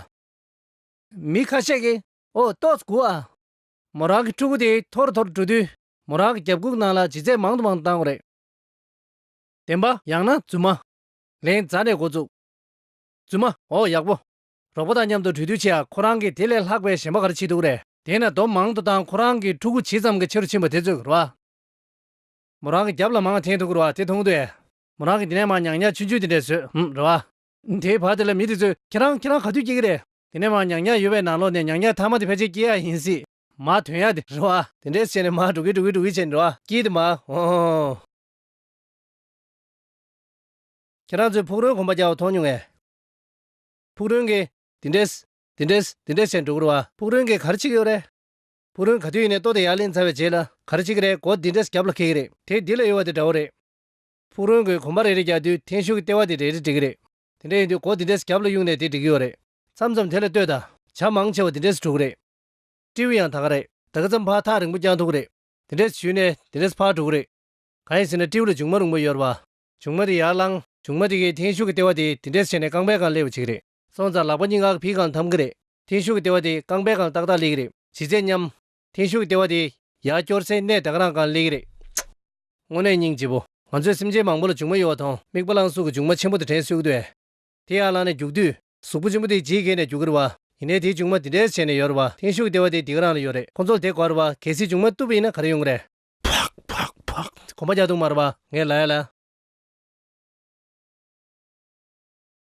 མི་ཁ་ཤས་ཀྱིས་ཨོ་ཏོ་ཀུ་ཨ། མོ་རང་གི་ཕྲུ་གུ་དེ་ཐོར་ཐོར་འགྲོ་དུས་མོ་རང་གི་རྒྱབ་ཁུག་ནང་ལ་ལྗིད་ཚད་མང་དུ་མང་དུ་བཏང་བ་རེད། བདེན་པ་ཡང་ན་རྫུན་མ། ལན། རྫ་ནས་འགོ་བཙུགས། རྫུན་མ། ཨོ་ཡག་པོ། རོགས་པ་དང་མཉམ་དུ་གྲོས་བསྡུར་བྱས་ཨ་ཁོ་རང་གིས་དེ་ལས་ལྷག་པའི་གཞན་པ་ག་རེ་བྱེད་འདུག་རེད། དེས་ན་རྡོ་མང་དུ་བཏང་ཁོ་རང་གི་ཕྲུ་གུ་ཇི་ཙམ་གྱི་ཆེ་རུ་ཕྱིན་པ་དེ་ཚོས་རོ་ཨ། མོ་རང་གི་རྒྱབ་ལ་མང་ཐེངས་དུ་བསྐུར་བ་དེ་མཐོང་དུས། མོ་རང་གིས་འདི་ནས་མང་ཉག་ཉག་ཆུན་ཆུན་དེ་འདྲས་བཟོས་ཨང་རེད་བ། དེའི་བར་དེ་ལ་མི་དེ་ཚོས་ཁྱེད་རང་ཁྱེད་རང་ག་དུས་སྐྱེས་ཀྱི་རེད། དེ་ནས་མང་ཉག་ཉག་ཡོད་པའི་ནང་ལོགས་ནས་ཉག་ཉག་ཐ་མ་དེ་ཕལ་ཆེར་སྐྱེས་ཡག་ཡིན་སྲིད། མ་དོན་ཡག་དེ་རེད་བ། དེ་འདྲས་བྱས་ནས་མ་འགྲོ་གི་འགྲོ་གི་འགྲོ་གི་བྱས་ནས་རེད་བ། སྐྱིད་དེ་མ། ཧོ། ཁྱེད་རང་ཚོས་ཕུག་རོན་གོམ་པ་རྒྱག་བ་མཐོང་མྱོང་ངས། ཕུག་རོན་གྱིས། དེ་འདྲས། དེ་འདྲས། དེ་འདྲས་བྱས་ནས་འགྲོ་གི་རེད་བ། ཕུག་རོན་གྱིས་ག་རེ་བྱེད་ཀྱི་ཡོད་རེད། བུ་རོན་ག་དུས་ཡིན་ནས་ལྟོ་དེ་ཡར་ལེན་ཚར་བའི་རྗེས་ལ་ག་རེ་བྱེད་ཀྱི་རེད་གོ་འདི་འདྲས་རྒྱབ་ལ་འཁེལ་གྱི་རེད། དེ་འདི་ལ་ཡོད་བ་དེ་འདྲ་བོ་རེད། བུ་རོན་གྱིས་གོམ་པ་རེ་རེ་རྒྱག་དུས་འཐེན་ཤུགས་ཀྱི་ལྟེ་བ་དེ་རེ་རེ་འགྲིག་གི་རེད། དེ་འདྲས་ཡིན་དུས་གོ་འདི་འདྲས་རྒྱབ་ལ་གཡུགས་ནས་དེ་འགྲིག་གི་ཡོད་རེད། མཚམས་མཚམས་དེ་ལ་ལྟོས་དང། བྱ་མང་ཆེ་བ་འདི་འདྲས་གྲུག་གི་རེད། སྤྲེའུ་ཡང་ད་ག་རེད་ད་ག་མཚམས་ཕར་ཐག་རིང་པོ་རྐྱང་ཐུག་གི་རེད། དེ་འདྲས་བྱུས་ནས་དེ་འདྲས་ཕར་གྲུག་གི་རེད། གང་ཡིན་ཟེར་ན་སྤྲེའུ་ལ་ལྗུང་མ་རུང་བོ་ཡོད་རེད་བ། ལྗུང་མ་དེ་ཡར་བསླངས་ལྗུང་མ་དེ་གའི་འཐེན་ཤུགས་ཀྱི་ལྟེ་བ་དེ་འདི་འདྲས་བྱས་ནས་རྐང་པའི་སྒང་སླེབས་བྱེད་ཀྱི་རེད། སོང་ཙང་ལག་པ་གཉིས་ངག་ཕིས་གང་འཐམ་གི་རེད། འཐེན་ཤུགས་ཀྱི་ལྟེ་བ་དེ་རྐང་པས་གང་ཏག་ཏག་སླེག་གི་རེད། བྱིས་རྩེད་མཉམ། འཐེན་ཤུགས་ཀྱི་ལྟེ་བ་དེ། ཡར་སྐྱོར་སའི་གནས་དག་རང་གང་སླེག་གི་རེད། དངོས་གནས་སྙིང་རྗེ་བོ། ང་ཚོས་སེམས་ཅན་མང་པོ་ལ་ལྗུག་མ་གཡོ་བ་དང་མིག་པ་བླངས་གཟུགས་ཀྱི་ལྗུག་མ་ཆེན་པོ་དེ་དྲན་སུས་དགོས། དེ་ཡར་བླངས་ནས་རྒྱུག་དུས། གཟུགས་པོ་ཆེན་པོ་དེ་ཇི་སྐད་ནས་རྒྱུག་གི་རེད་བ། ཡིན་ནའི་དེའི་ལྗུག་མ་དེ་འདྲས་བྱས་ནས་ཡོད་རེད་བ། འཐེན་ཤུགས་ཀྱི་ལྟེ་བ་དེ་འདི་ག་རང་ལ་ཡོད་རེད། ཁོ་ཚོ་ལ་དེ་གོ་རེད་བ། གལ་སྲིད་ལྗུག་མ་རྟུལ་བུ་ཡིན་ན་ག་རེ་ཡོང་གི་རེད། བག་བག་བག། གོམ་པ་རྒྱག་འདུག་མ་རེད་བ། ངས་ལ་ཡ་ལ།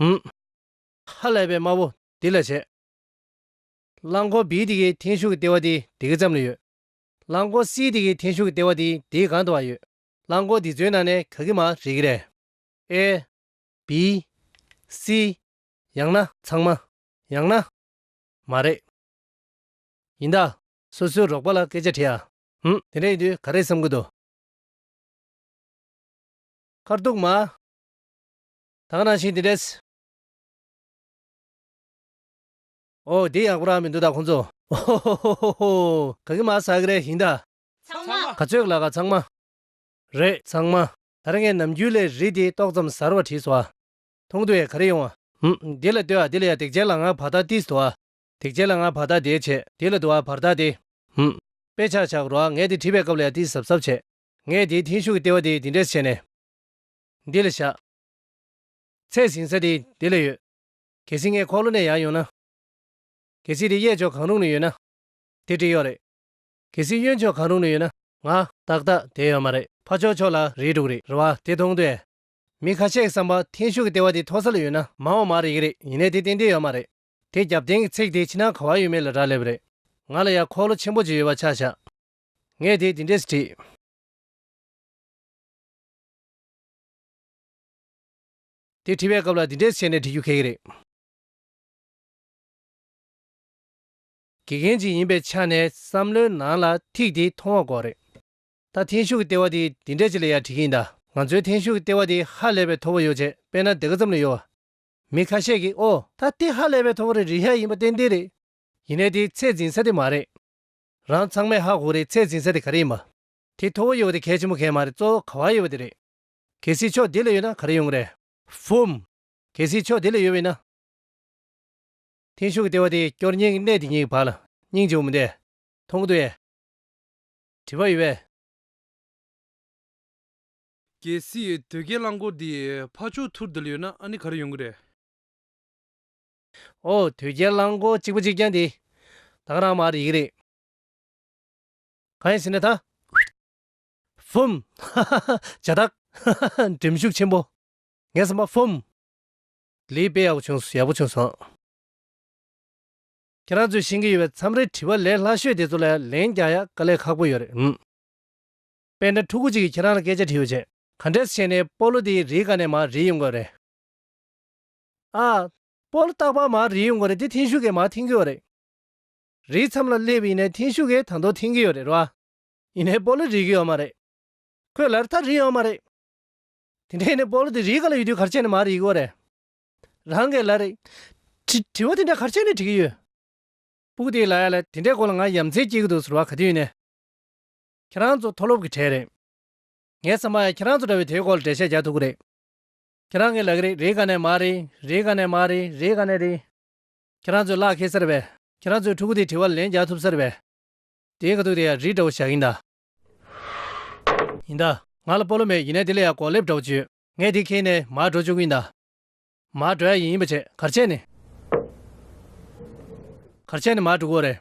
ཧཱུྃ། ཧ་ལས་པའི་དམར་པོ་འདི་ལ་བྱེད། རླངས་འཁོར་བིའི་དེ་གའི་འཐེན་ཤུགས་ཀྱི་ལྟེ་བ་དེ་དེ་གའི་ཙམ་ལ་ཡོད། རླངས་འཁོར་སིའི་དེ་གའི་འཐེན་ཤུགས་ཀྱི་ལྟེ་བ་དེ་དེའི་གང་དུའང་ཡོད། རླངས་འཁོར་འདི་ཚོའི་ནང་ནས་ག་གི་མ་རེད་ཀི་རེད། ཨེ། བི། སི། ཡང་ན། ཚང་མ། ཡང་ན། མ་རེད། ཡིན་ད། སོ་སོའི་རོགས་པ་ལ་སྐད་ཆ་དྲིས་ཨ། ཧུམ། དེ་འདྲ་ཡིན་དུས་ག་རེ་བསམ་གི་འདུག། མཁར་གཏུགས་མ། དག་ནང་བཞིན་དེ་འདྲས། ཨོ་དེ་ཡག་པོ་རང་མི་འདུག་ད་ཁོང་ཚོ། ཧོ་ཧོ་ཧོ་ཧོ་ཧོ། ག་གི་མ་ཟ་གི་རེད་ཞིང་ད། ཚང་མ། ག་ཚོད་ལ་ག་ཚང་མ། རེད་ཚང་མ། ད་རེ་ངས་ནམ་རྒྱུན་ལས་རིས་དེ་ཏོག་ཙམ་ཟར་བ་བྲིས་སོ་ཨ། མཐོང་དུ་ཡས་ག་རེ་ཡོང་ཨ། ཧུམ། འདི་ལ་ལྟོས་ཨ་འདི་ལ་ཡ་དེག་ཅན་ལ་ང་བར་ཐག་ཏིས་དུ་ཨ། དེག་ཅན་ལ་ང་བར་ཐག་དེས་བྱས། དེ་ལ་དུ་ཨ་བར་ཐག་དེ། ཧུམ། དཔེ་ཆག་ཆག་གི་རོ་ཨ་ངས་དེ་བྲིས་པའི་སྐབས་ལ་ཡ་ཏིས་ཟབ་ཟབ་བྱས། ངས་དེའི་མཐིང་ཤུགས་ཀྱི་ལྟེ་བ་དེ་འདི་འདྲས་བྱས་ནས། འདི་ལ་བཞག། ཚད་ཟིན་ས་དེ་འདི་ལ་ཡོད། གལ་སྲིད་ངས་འཁོར་ལོ་ནས་ཡར་ཡོང་ན། གལ་སྲིད་དེ་གཡས་ཕྱོགས་གང་རུང་ནས་ཡོད་ན། དེ་འབྲི་གཡོག་རེད། གལ་སྲིད་གཡོན་ཕྱོགས་གང་རུང་ནས་ཡོད་ན། ང། ཏག་ཏག་དེ་ཡོད་མ་རེད། ཕ་ཆོག་ཆོག་ལ་རེད་འདུག་རེད་རེད་བ་དེ་མཐོང་དུས། མི་ཁ་ཤས་ཀྱི་བསམ་པ་འཐེན་ཤུགས་ཀྱི་ལྟེ་བ་དེ་མཐོ་ས་ལ་ཡོད་ན་མ་འོངས་མ་རེད་གི་རེད་ཡིན་ནས་དེ་ཏན་ཏན་ཡོད་མ་རེད། དེ་རྒྱབ་རྟེན་གྱི་ཚེག་དེ་ཕྱི་ནང་ག་བ་ཡོད་མེད་ལ་རག་ལས་པ་རེད། ང་ལ་ཡར་འཁོར་ལོ་ཆེན་པོ་གཅིག་ཡོད་པ་ཆགས་བཞག། ངས་དེ་འདི་འདྲས་སུ་བྲིས། དེ་བྲིས་པའི་སྐབས་ལ་འདི་འདྲས་བྱས་ནས་བྲི་རྒྱུ་གལ་གི་རེད། དགེ་རྒན་ཅིག་ཡིན་པའི་ཆ་ནས་བསམ་བློའི་ནང་ལ་ཐིག་དེ་མཐོང་བ་འགོག་རེད། ད་ཐེངས་ཤུགས་ཀྱི་ལྟེ་བ་དེ་འདི་འདྲས་ཅིག་ལ་ཡར་བྲིས་ཀྱིན་གདའ། ང་ཚོའི་ཐེངས་ཤུགས་ཀྱི་ལྟེ་བ་དེ་ཧ་ལས་པའི་ཐོ་བོ་ཡོད་ཅེས་དཔེ་ན་དེ་ག་ཙམ་ལས་ཡོད། མི་ཁ་ཤས་ཀྱིས་ཨོ། ད་ལྟའི་ཧ་ལས་པའི་ཐོ་བོ་རེ་རེ་ཧ་ཡིན་པ་ཏན་ཏན་རེད། ཡིན་ནའི་དེ་ཚད་འཛིན་ས་དེ་མ་རེད། རང་ཚང་མས་ཧ་གོ་རེའི་ཚད་འཛིན་ས་དེ་ག་རེ་ཡིན་པ། དེ་མཐོ་བོ་ཡོད་པ་དེ་གལ་ཆེན་པོ་གལ་མ་རེད་གཙོ་བོ་ག་བ་ཡོད་པ་དེ་རེད། གལ་སྲིད་ཕྱོགས་དེ་ལ་ཡོད་ན་ག་རེ་ཡོང་གི་རེད། བྷུམ། གལ་སྲིད་ཕྱོགས་དེ་ལ་ཡོད་པ་ཡིན་ན། འཐེན་ཤུགས་ཀྱི་ལྟེ་བ་དེ་སྐྱོར་གཉེན་གྱི་གནས་དེ་གཉིས་ཀྱི་བར་ལ་སྙིང་རྗེ་བོ་མི་འདེད། མཐོང་གི་འདུག་ཡ། དྲི་བ་ཡོད་པས། གལ་སྲིད་དོལ་རྒྱལ་རླངས་འཁོར་དེ་ཕ་ཕྱོགས་ཐུར་དེ་ལ་ཡོད་ན་ཨ་ནི་ག་རེ་ཡོང་གི་རེད། ཨོ། དོལ་རྒྱལ་རླངས་འཁོར་གཅིག་པོ་གཅིག་རྐྱང་དེ། དྭངས་རང་མ་རེད་ཡིག་རེད། གང་ཡིན་ཟེར་ན་ད། བུམ། ཧཧཧ། བྱ་ཐག། ཧཧཧ། འགྲེམས་ཤུགས་ཆེན་པོ། ངས་བསམ་པ། བུམ། ལིའི་དཔེ་ཡག་པོ་བྱུང་ཡག་པོ་བྱུང་སོང། ཁྱེད་རང་ཚོས་ཤེས་ཀྱི་ཡོད་པའི་མཚམས་རེ་དྲི་བ་ལས་སླ་ཤོས་དེ་ཚོ་ལ་ལན་རྒྱག་ཡག་དཀའ་ལས་ཁག་པོ་ཡོད་རེད། དཔེ་འདྲ་ཕྲུ་གུ་གཅིག་གིས་ཁྱེད་རང་ལ་སྐད་ཆ་དྲི་ཡོད་ཅེས། ག་འདྲས་བྱས་ནས་སྤོ་ལོ་དེའི་རིགས་ཀ་ནས་མར་རིས་ཡོང་དགོས་རེད། ཨ། སྤོ་ལོ་རྟག་པར་མར་རིས་ཡོང་དགོས་རེད་དེ་འཐེན་ཤུགས་ཀས་མར་འཐེན་དགོས་རེད། རེའི་མཚམས་ལ་སླེབས་ཡིན་ནའི་ཐེངས་ཤུག་གེ་དང་དོ་ཐེངས་གི་ཡོད་རེད་རོ། ཡིན་ནའི་སྤོ་ལོ་རིག་གི་ཡོད་མ་རེད། ཁོས་ལར་ཐག་རིག་ཡོད་མ་རེད། དེ་འདྲ་ཡིན་ནའི་སྤོ་ལོ་དེ་རིག་ག་ལ་ཡོད་དུས་གར་ཆས་ནི་མ་རིག་གི་རེད། རང་གི་ལ་རེད། དྲི། དྲི་བ་དེ་འདྲ་གར་ཆས་ནི་དྲི་གི་ཡོད། སྤུག་དེའི་ལ་ཡ་ལ་དེ་འདྲའི་སྐོར་ལ་ང་ཡ་མཚན་སྐྱེས་གི་འདུག་ཟེར་བ་ག་དུས་ཡིན་ནའི། ཁྱེད་རང་ཚོ་མཐོ་སློབ་གི་གྲས་རེད། ངའི་བསམ་པར་ཡང་ཁྱེད་རང་ཚོ་འདྲ་བས་དེའི་སྐོར་ལ་འགྲེལ་བཤད་རྒྱག་ཐུབ་གི་རེད། ཁྱེད་རང་གི་ལ་གི་རེད་རེད་ག་ནས་མ་རེད་རེད་ག་ནས་མ་རེད་རེད་ག་ནས་རེད། ཁྱེད་རང་ཚོས་གླགས་ཁེལ་ཟེར་བས། ཁྱེད་རང་ཚོས་ཕྲུ་གུ་དེའི་དྲི་བར་ལན་རྒྱག་ཐུབ་ཟེར་བས། དེའི་ཁ་ཐུག་དེ་ཡང་རིགས་འདྲ་བོ་བཞག་ཡིན་གདའ། ཡིན་གདའ། ང་ལ་སྤོ་ལོ་མེད་ཡིན་ནས་དེ་ལས་ཡང་གོག་ལེབ་འདྲ་བོ་བྱོས། ངས་དེ་ཁེལ་ནས་མར་འགྲོ་བཅུག་གི་ཡིན་གདའ། མར་འགྲོ་ཡ་ཡིན་ཡིན་པ་བྱས་གར་བྱས་ནས། གར་བྱས་ནས་མར་འགྲོ་གི་འོ་རེད།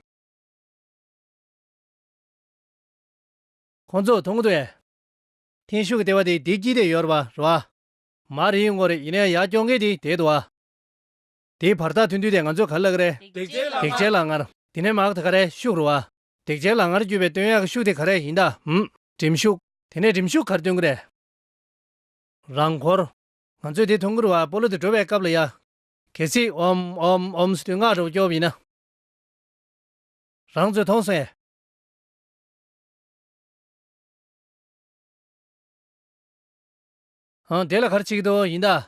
ཁོང་ཚོ་མཐོང་གི་འདུག་ཨེ། ཐེངས་ཤུག་གི་ལྟེ་བ་དེ་དེའི་དཀྱིལ་དེ་ཡོད་ར་བ་རོ་ཨ། མར་ཡིན་གི་འོ་རེད་ཡིན་ན་ཡང་ཡར་སྐྱོར་མཁན་དེ་དེའི་དོ་ཨ། དེའི་བར་ཐག་ཐུང་དུས་དེ་ང་ཚོས་ག་ལ་ག་རེ། དེག་ཆའི་ལག་དམར། དེ་ནས་མག་དེ་ག་རེ་ཤུགས་རུ་བ། དེག་ཆའི་ལག་ངར་བརྒྱུད་པའི་སྟོན་ཡག་གི་ཤུགས་དེ་ག་རེ་ཡིན་ད་འམ། གྲིམ་ཤུགས། དེ་ནས་གྲིམ་ཤུགས་གར་སྟོན་གི་རེད། རང་འཁོར། ང་ཚོས་དེ་མཐོང་གི་རུ་བ་སྤོ་ལོ་དེ་འགྲོ་བའི་སྐབས་ལ་ཡག། གལ་སྲིད་འོམ། འོམ། འོམ་སི་དུས་ངག་འགྲོ་བ་སྐྱོ་བ་ཡིན་ན། རང་ཚོས་མཐོང་སོང་ཡ། འོང་དེ་ལ་གར་ཆིག་ཏུ་ཡིན་ད།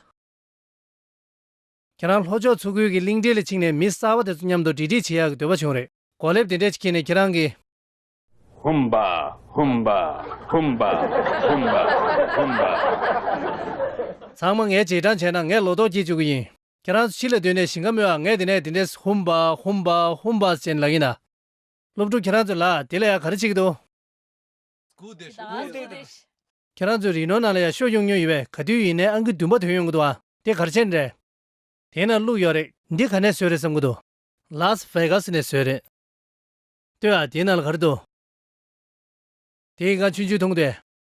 ཁྱེད་རང་ལྷོ་ཕྱོགས་མཚོ་ཁུལ་གྱི་གླིང་ཕྲན་ལ་ཕྱིན་ནས་མི་གསར་བ་དེ་ཚོ་མཉམ་དུ་འབྲེལ་འདྲིས་བྱེད་ཡག་གི་འདོད་པ་བྱུང་རེད། གོ་ལེབ་དེ་འདྲས་ཅིག་ཁྱེར་ནས་ཁྱེད་རང་གི། ཧུམ་བ་ཧུམ་བ་ཧུམ་བ་ཧུམ་བ་ཧུམ་བ། ཚང་མ་ངས་རྗེས་འབྲང་བྱས་ན་ངས་ལོ་ཏོག་སྐྱེས་བཅུག་གི་ཡིན། ཁྱེད་རང་ཚོ་ཕྱི་ལ་སྡོད་ནས་ཞིང་ཁ་རྨོས་ཨ་ངས་དེ་ནས་དེ་འདྲས་ཧུམ་བ་ཧུམ་བ་ཧུམ་བ་ཅེས་ལབ་གིན་གདའ། སློབ་ཕྲུག་ཁྱེད་རང་ཚོས་ལ་དེ་ལ་ཡང་ག་རེ་བྱེད་ཀྱི་འདུག། ཁྱེད་རང་ཚོའི་རིག་ནོར་ནང་ལ་ཡང་ཤོ་གཡུག་ཉོ་ཡི་བས་ག་དུས་ཡིན་ནའི་ཨང་ཀི་བདུན་པ་དོན་ཡོང་གི་འདུག་ཨ་དེ་གར་ཆེན་རེད། དེ་ན་བླུག་ཡོད་རེད། འདི་ག་ནས་བཟོས་རེད་བསམ་གི་འདུག། Las Vegas ནས་བཟོས་རེད། ལྟོས་ཨ་དེ་ན་ལ་ག་རེ་འདུག། དེ་ཡི་གང་ཆུན་ཆུན་ཐུང་ཏེ།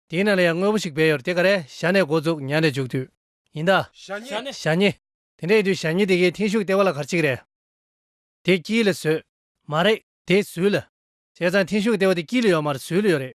དེ་ན་ལ་ཡང་དངོས་པོ་ཞིག་སྦས་ཡོད་རེད་དེ་ག་རེ་ཞྭ་ནས་འགོ་བཙུགས་ཉལ་ནས་འཇུག་དུས། ཡིན་ད། ཞྭ་ཉི། དེ་འདྲ་ཡིན་དུས་ཞྭ་ཉི་དེ་གའི་མཐིང་ཤུགས་ལྟེ་བ་ལ་གར་གཅིག་རེད། དེ་དཀྱིལ་ལ་བཟོས། མ་རེད། དེ་ཟུལ་ལ། བྱས་ཙང་མཐིང་ཤུགས་ལྟེ་བ་དེ་དཀྱིལ་ལ་ཡོད་མ་རེད་ཟུལ་ལ་ཡོད་རེད།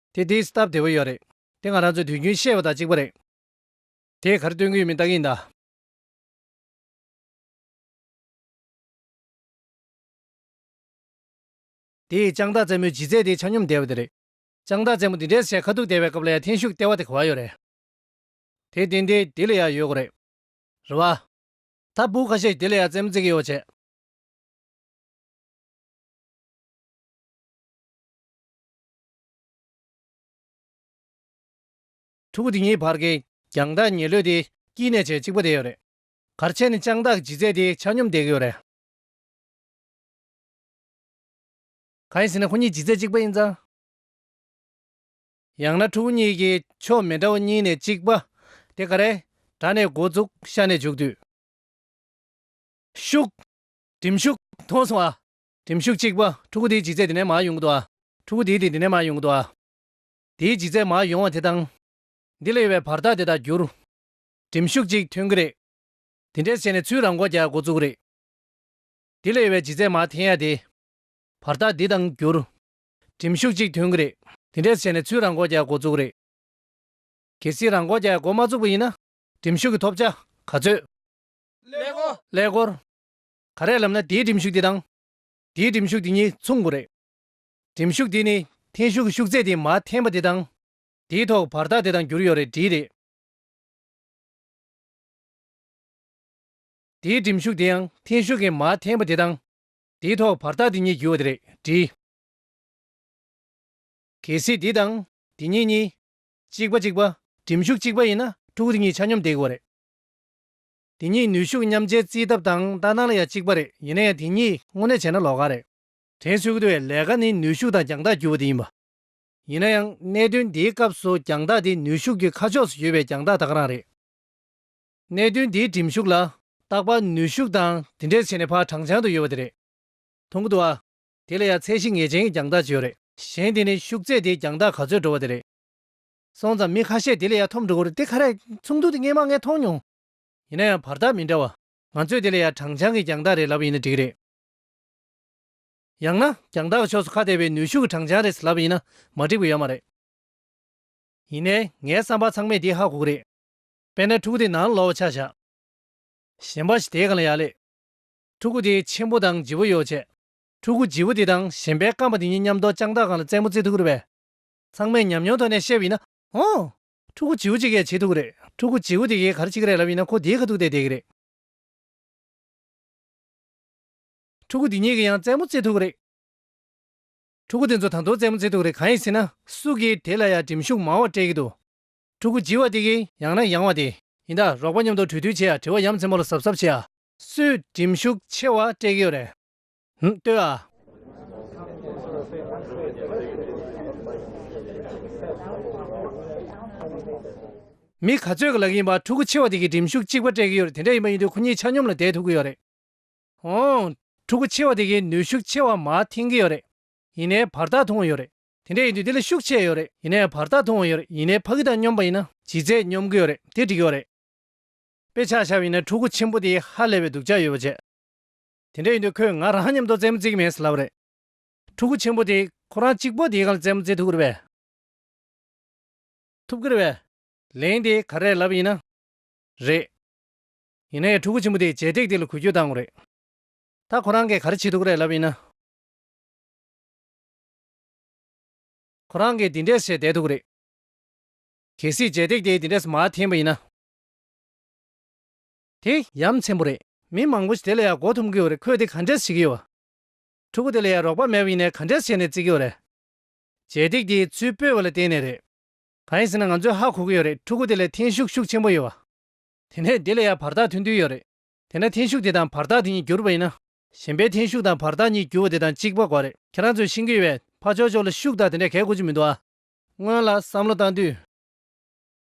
དེ་དེའི་སྟབས་བདེ་བོ་ཡོད་རེད། དེ་ང་རང་ཚོས་དུས་རྒྱུན་བཤད་པ་དང་གཅིག་པ་རེད། དེས་གར་སྟོན་གི་མི་རྟག་གིན་གདའ། དེས་ལྕང་སྟག་བཙན་མོའི་ལྗིད་ཚད་དེའི་ཆ་སྙོམས་བསྡད་པ་དེ་རེད། ལྕང་སྟག་བཙན་མོ་འདི་འདྲའི་སའི་ཁ་ཐུག་བསྡད་པའི་སྐབས་ལ་ཡང་འཐེན་ཤུགས་སྟེར་བ་དེ་གོ་བ་ཡོད་རེད། དེ་བརྟེན་དེ་དེ་ལ་ཡང་ཡོད་དགོས་རེད། རེད་བ། ད་སྤུ་ཁ་ཤས་ཀྱིས་དེ་ལ་ཡང་བཙན་མོ་བརྩིགས་གིན་ཡོད་བྱས། ཕྲུ་གུ་དེ་གཉིས་བར་གྱི་རྒྱང་ཐག་ཉེ་ལོས་དེ་སྐྱིད་གནས་ཆེ་གཅིག་པོ་དེ་ཡོད་རེད། གར་ཆེན་ནི་སྤྱང་བདག་ཇི་མཛད་དེ་ཆ་སྙོམས་བསྡད་ཀྱི་ཡོད་རེད། གང་ཡིན་ཟེར་ན་ཁོ་གཉིས་ཇི་མཛད་གཅིག་པ་ཡིན་ཙང། ཡང་ན་ཕྲུ་གུ་གཉིས་ཀྱི་ཕྱོགས་མི་འདྲ་བ་གཉིས་ནས་གཅིག་པ། དེ་ག་རེ། དགྲ་ནས་འགོ་བཙུགས་ཤ་ནས་བྱུགས་དུས། ཤུག། གྲིམ་ཤུགས་མཐོང་སོང་ཨ། གྲིམ་ཤུགས་གཅིག་པ། ཕྲུ་གུ་དེའི་ལྗིད་ཚད་དེ་ནས་མར་ཡོང་གི་འདུག་ཨ། ཕྲུ་གུ་དེའི་དེ་དེ་ནས་མར་ཡོང་གི་འདུག་ཨ། དེའི་ལྗིད་ཚད་མར་ཡོང་བ་དེ་དང། འདི་ལ་ཡོད་པའི་བར་ཐག་དེ་དག་བསྒྱུར། གྲིམ་ཤུགས་གཅིག་ཐོན་གི་རེད། དེ་འདྲས་བྱས་ནས་ཚུར་རང་མགོ་རྒྱག་མགོ་བཙུགས་རེད། འདི་ལ་ཡོད་པའི་ལྗིད་ཚད་མར་འཐེན་ཡ་དེ། བར་ཐག་འདི་དང་བསྒྱུར། གྲིམ་ཤུགས་གཅིག་ཐོན་གི་རེད། དེ་འདྲས་བྱས་ནས་ཚུར་རང་མགོ་རྒྱག་མགོ་བཙུགས་རེད། གལ་སྲིད་རང་མགོ་རྒྱག་མགོ་མ་བཙུགས་པ་ཡིན་ན། གྲིམ་ཤུགས་ཀྱི་ཐོབ་བྱ་ག་ཚོད། ཀླད་ཀོར། ག་རེ་ལབ་ན་དེའི་འགྲིམ་ཤུགས་དེ་དང། དེའི་འགྲིམ་ཤུགས་དེ་གཉིས་མཚུངས་དགོས་རེད། འགྲིམ་ཤུགས་དེ་ནི་འཐེན་ཤུགས་ཤུགས་ཚད་དེ་མ་འཐེན་པ་དེ་དང། དེའི་ཐོག་བར་ཐག་དེ་དང་འགྱུར་ཡོད་རེད་འདྲིས་རེད། དེའི་འགྲིམ་ཤུགས་དེ་ཡང་འཐེན་ཤུགས་ཀྱི་མ་འཐེན་པ་དེ་དང། དེའི་ཐོག་བར་ཐག་དེ་གཉིས་འགྱུར་བ་དེ་རེད་འདྲིས། གལ་སྲིད་འདི་དང་འདི་གཉིས་གཉིས། གཅིག་པ་གཅིག་པ་འགྲིམ་ཤུགས་གཅིག་པ་ཡིན་ན་ཕྲུ་གུ་དེ་གཉིས་ཆ་སྙོམས་བསྡད་དགོས་རེད། དེ་གཉིས་ནུས་ཤུགས་མཉམ་སྤྱད་རྩིས་ཐབས་དང་ལྟ་སྟངས་ལ་ཡང་གཅིག་པ་རེད་ཡིན་ན་ཡང་དེ་གཉིས་དངོས་གནས་བྱས་ན་ལོག་ཁ་རེད། དྲན་ཤུགས་དེ་བས་ལས་ཀ་ནི་ནུས་ཤུགས་དང་རྒྱང་ཐག་བརྒྱུད་པ་དེ་ཡིན་པ། ཡིན་ན་ཡང་གནད་དོན་འདིའི་སྐབས་སུ་རྒྱང་ཐག་དེ་ནུས་ཤུགས་ཀྱི་ཁ་ཕྱོགས་སུ་བརྒྱུད་པའི་རྒྱང་ཐག་དག་རང་རེད། གནད་དོན་འདིའི་གྲིམ་ཤུགས་ལ་བརྟག་པ་ནུས་ཤུགས་དང་དེ་འདྲའི་ཆེ་ནས་ཕར་དྲང་བྱང་དུ་ཡོད་པ་དེ་རེད། དུང་གི་དུ་བ། དེ་ལ་ཡང་ཚད་གཞི་ངེས་ཅན་གྱི་རྒྱང་ཐག་ཅིག་ཡོད་རེད། གཞན་དེ་ནི་ཤུགས་ཚད་དེའི་རྒྱང་ཐག་ག་ཚོད་འགྲོ་བ་དེ་རེད། སོང་ཙང་མི་ཁ་ཤས་དེ་ལས་ཡང་ཐོབ་འགྲོ་གི་རེད་དེ་ཁ་རས་ཚོགས་འདུ་དེ་ངས་མ་ངས་མཐོང་མྱོང། ཡིན་ན་ཡང་བར་ཐག་མི་འདྲ་བ། ང་ཚོས་དེ་ལ་ཡང་དྲང་བྱང་གི་རྒྱང་ཐག་རེད་ལབ་ཡིན་ན་འགྲིག་གི་རེད། ཡང་ན་རྒྱང་ཐག་གི་ཕྱོགས་སུ་ཁ་གཏད་པའི་ནུས་ཤུགས་ཀྱི་དྲང་བྱང་རེད་ལབ་ཡིན་ན་མ་འགྲིག་པ་ཡོད་མ་རེད། ཡིན་ནའི་ངའི་བསམ་པར་ཚང་མས་དེ་ཧ་གོ་གི་རེད། དཔེར་ན་ཕྲུ་གུ་དེ་ནང་ལ་ལོག་བ་ཆ་བཞག། གཞན་པ་ཞིག་དེའི་གང་ལ་ཡག་ལེ། ཕྲུ་གུ་དེའི་ཆེན་པོ་དང་ལྗི་བོ་ཡོ་བྱད། ཕྲུ་གུ་ལྗི་བོ་དེ་དང་གཞན་པའི་སྐམ་པ་དེ་གཉིས་མཉམ་འདོགས་དཔྱང་ཐག་གང་ལ་རྩེད་མོ་རྩེ་ཐུབ་ཀི་རེད། ཚང་མས་ཉམས་མྱོང་ཐོག་ནས་བཤད་པ་ཡིན་ན་འོང། ཕྲུ་གུ་བྱིའུ་གཅིག་གས་བྱེད་ཐུབ་ཀྱི་རེད། ཕྲུ་གུ་བྱིའུ་དེ་གས་གར་བྱེད་ཀྱི་རེད་ལབ་ཡིན་ན་ཁོ་དེའི་ཁ་ཐུག་སྟེ་བསྡད་ཀྱི་རེད། ཕྲུ་གུ་དེ་གཉིས་ཀས་ཡང་རྩེད་མོ་རྩེད་ཐུབ་ཀྱི་རེད། ཕྲུ་གུ་དེ་ཚོ་དང་ཐོག་རྩེད་མོ་རྩེད་ཐུབ་ཀྱི་རེད་གང་ཡིན་ཟེར་ན། སུ་གིས་དེ་ལ་ཡང་འགྲིམ་ཤུགས་མང་བ་སྤྲད་ཀྱི་འདུག་ཕྲུ་གུ་བྱི་བ་དེ་གས་ཡང་ན་ཡང་བ་དེ། ཡིན་ད་རོགས་པ་མཉམ་དུ་གྲོས་བསྡུར་བྱེད་ཡ་དྲི་བ་ཡ་མཚན་མོ་ལ་གཟབ་གཟབ་བྱེད་ཡ། སུས་འགྲིམ་ཤུགས་ཆེ་བ་སྤྲད་ཀྱི་ཡོད་རེད། ལྟོས་ཨ། མི་ག་ཚོད་ཀྱི་ལག་ཡིན་པ་ཕྲུ་གུ་ཆེ་བ་དེ་གིས་འགྲིམ་ཤུགས་གཅིག་པ་སྤྲད་ཀྱི་ཡོད་རེད་དེ་འདྲ་ཡིན་པ་ཡིན་དུས་ཁོ་གཉིས་ཆ་སྙོམས་ལ་བསྡད་ཐུབ་ཀྱི་ཡོད་རེད། ཨོང། ཕྲུ་གུ་ཆེ་བ་དེ་གིས་ནུས་ཤུགས་ཆེ་བ་མ་འཐེན་གྱི་ཡོད་རེད། ཡིན་ནའི་བར་ཐག་ཐུང་བ་ཡོད་རེད། དེ་འདྲ་ཡིན་དུས་དེ་ལ་ཤུགས་ཆེ་ཡོད་རེད་ཡིན་ནའི་བར་ཐག་ཐུང་བ་ཡོད་རེད་ཡིན་ནའི་ཕ་གི་དང་སྙོམས་པ་ཡིན་ན། ལྗིད་ཚད་སྙོམས་ཀྱི་ཡོད་རེད་དེ་འགྲིག་གི་ཡོད་རེད། དཔེ་ཆ་ཤར་བ་ཡིན་ན་ཕྲུ་གུ་ཆེན་པོ་དེས་ཧ་ལས་པའི་སྡུག་ཅག་ཡོད་པ་བྱེད། དེ་འདྲ་ཡིན་དུས་ཁོས་ང་རང་མཉམ་དུ་རྩེད་མོ་རྩེ་གི་མེད་ཟེར་ལབ་རེད། ཕྲུ་གུ་ཆེན་པོ་དེས་ཁོ་རང་གཅིག་པོ་དེའི་གང་ལ་རྩེད་མོ་རྩེ་ཐུབ་གི་རེད་པས། ཐུབ་གི་རེད་པས། ལན། དེ་ག་རེད་ལབ་ཡིན་ན། རེད། ཡིན་ན་ཡང་ཕྲུ་གུ་ཆེན་པོ་དེས་བྱས་སྟེགས་དེ་ལ་གུས་སྐྱོད་བཏང་གི་རེད། ད་ཁོ་རང་གིས་ག་རེ་བྱེད་ཐུབ་གི་རེད་ལབ་ཡིན་ན། ཁོ་རང་གིས་འདི་འདྲས་བྱས་བསྡད་ཐུབ་གི་རེད། གལ་སྲིད་བྱས་སྟེགས་དེ་འདི་འདྲས་སུ་མ་འཐེན་པ་ཡིན་ན། དེ་ཡ་མཚན་པོ་རེད། མི་མང་པོ་ཞིག་དེ་ལ་ཡ་གོ་ཐུབ་གི་ཡོད་རེད་ཁོས་དེ་ག་འདྲས་བྱེད་ཀྱི་ཡོད། ཕྲུ་གུ་དེ་ལ་ཡ་རོགས་པ་མེད་པ་ཡིན་ནའི་ག་འདྲས་བྱས་ནས་བརྩི་གི་ཡོད་རེད། བྱེད་སྟེགས་དེའི་ཚུལ་སྤོས་བ་ལ་བརྟེན་ནས་རེད། ག་ཡིན་ཟེར་ན་ང་ཚོས་ཧ་གོ་གི་ཡོད་རེད་ཕྲུ་གུ་དེ་ལ་འཐེན་ཤུགས་ཤུགས་ཆེན་པོ་ཡོད། དེ་ནས་དེ་ལ་ཡ་བར་ཐག་ཐུང་ཐུང་ཡོད་རེད། དེ་ནས་འཐེན་ཤུགས་དེ་དང་བར་ཐག་དེ་གཉིས་འགྱུར་བ་ཡིན་ན། གཞན་པའི་འཐེན་ཤུགས་དང་བར་ཐག་གཉིས་འགྱུར་བ་དེ་དང་གཅིག་པ་དགོས་རེད་ཁྱེད་རང་ཚོས་ཤེས་ཀྱི་ཡོད་བས་ཕ་ཆོག་ཆོག་ལ་ཤུགས་དག་དེ་འདྲས་གས་དགོས་ཀྱི་མི་འདུག་ཨ། སྔོན་ལ་བསམ་བློ་བཏང་དུས།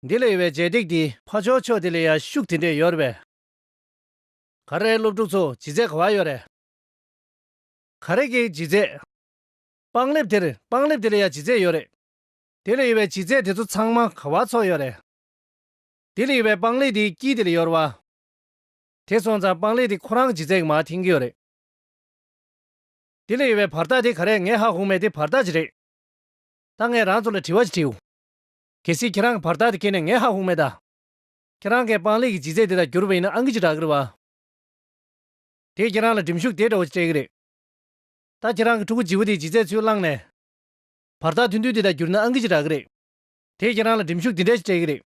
འདི་ལས་ཡོལ་བའི་རྗེས་འདེགས་འདི། ཕ་ཆོག་ཆོག་དེ་ལས་ཡར་ཤུགས་དེ་འདྲས་ཡོལ་བས། ག་རེ་སློབ་ཕྲུག་ཚོ་ལྗིད་ཚད་ག་བ་ཡོལ་རེད། ག་རེ་གའི་ལྗིད་ཚད། པང་ལེབ་དེར་པང་ལེབ་དེ་ལས་ཡར་ལྗིད་ཚད་ཡོལ་རེད། དེ་ལས་ཡོལ་བའི་ལྗིད་ཚད་དེ་ཚོ་ཚང་མ་ག་བ་ཚོགས་ཡོལ་རེད། དེ་ལས་ཡོལ་བའི་པང་ལེབ་དེའི་དཀྱིལ་དེ་ལས་ཡོལ་བ། དེ་སོང་ཙང་པང་ལེབ་དེ་ཁོ་རང་ལྗིད་ཚད་གི་མ་འཐེན་གི་ཡོལ་རེད། དེ་ལས་ཡོལ་བའི་བར་ཐག་དེ་ག་རེད་ངས་ཧ་གོ་མེད་དེ་བར་ཐག་ཅི་རེད། ད་ངས་རང་ཚོ་ལ་དྲི་བ་ཅིག་དྲིའོ། གལ་སྲིད་ཁྱེད་རང་གི་བར་ཐག་དེ་ཁེལ་ནས་ངས་ཧ་ཧུ་མེད་ད། ཁྱེད་རང་གི་སྤང་ལེགས་ཀྱི་ལྗིད་ཚད་དེ་དག་བསྒྱུར་བ་ཡིན་ན་ཨང་ཀི་ཅི་དྲག་གི་རེད་བ། དེས་ཁྱེད་རང་ལ་གྲིམ་ཤུགས་དེ་འདྲ་བོ་ཅིག་སྤྲད་གི་རེད། ད་ཁྱེད་རང་གི་ཕྲུ་གུ་བརྗིད་བོ་དེའི་ལྗིད་ཚད་ཚུར་བླངས་ནས། བར་ཐག་ཐུང་ཐུང་དེ་དག་བསྒྱུར་ན་ཨང་ཀི་ཅི་དྲག་གི་རེད། དེས་ཁྱེད་རང་ལ་གྲིམ་ཤུགས་དེ་འདྲ་ཅིག་སྤྲད་གི་རེད།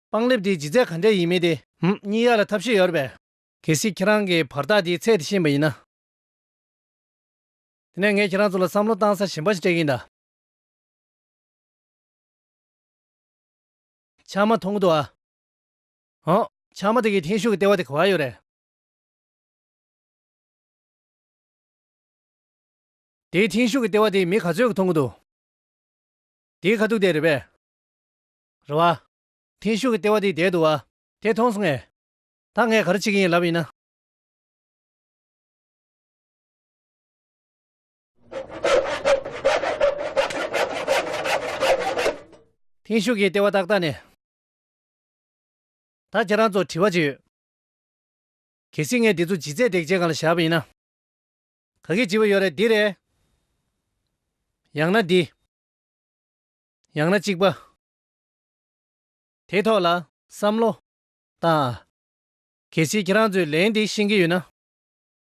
སྤང་ལེབ་དེའི་ལྗིད་ཚད་ག་འདྲ་ཡིན་མིན་དེ། ཧུམ་སྙིང་ཡག་ལ་ཐབས་ཤེས་ཡོད་རེད་བས། གལ་སྲིད་ཁྱེད་རང་གི་བར་ཐག་དེའི་ཚད་དེ་ཤེས་པ་ཡིན་ན། དེ་ནས་ངས་ཁྱེད་རང་ཚོ་ལ་བསམ་བློ་གཏང་ས་གཞན་པ་ཞིག་སྤྲད་གི་ཡིན་ད། ཆང་མ་འཐུང་གི་འདུག་ཨ། ཨོ། ཆང་མ་དེ་གའི་ཐེངས་ཤུག་གི་ལྟེ་བ་དེ་ག་བར་ཡོད་རེད། དེའི་ཐེངས་ཤུག་གི་ལྟེ་བ་དེ་མི་ག་ཚོད་ཀྱི་འཐུང་གི་འདུག། དེའི་ཁ་ཐུག་དེ་རེད་པས། རེད་བ། ཐེངས་ཤུག་གི་ལྟེ་བ་དེ་བསྡད་འདུག་ཨ། དེ་མཐོང་སོང་ངས། ད་ངས་ག་རེ་བྱེད་ཀྱི་ཡིན་ལབ་ཡིན་ན། ཐེངས་ཤིག་གི་ལྟེ་བ་ཏག་ཏག་ནས། ད་ཁྱེད་རང་ཚོར་དྲི་བ་གཅིག་ཡོད། གལ་སྲིད་ངས་འདི་ཚོ་ཇི་རྩད་འདེགས་བྱེད་གང་ལ་བཞག་པ་ཡིན་ན། ག་གེ་བྱིས་པ་ཡོད་རེད་འདི་རེད། ཡང་ན་འདི། ཡང་ན་གཅིག་པ། དེའི་ཐོག་ལ་བསམ་བློ་བཏང་ཨ། གལ་སྲིད་ཁྱེད་རང་ཚོས་ལན་འདི་ཤེས་ཀྱི་ཡོད་ན།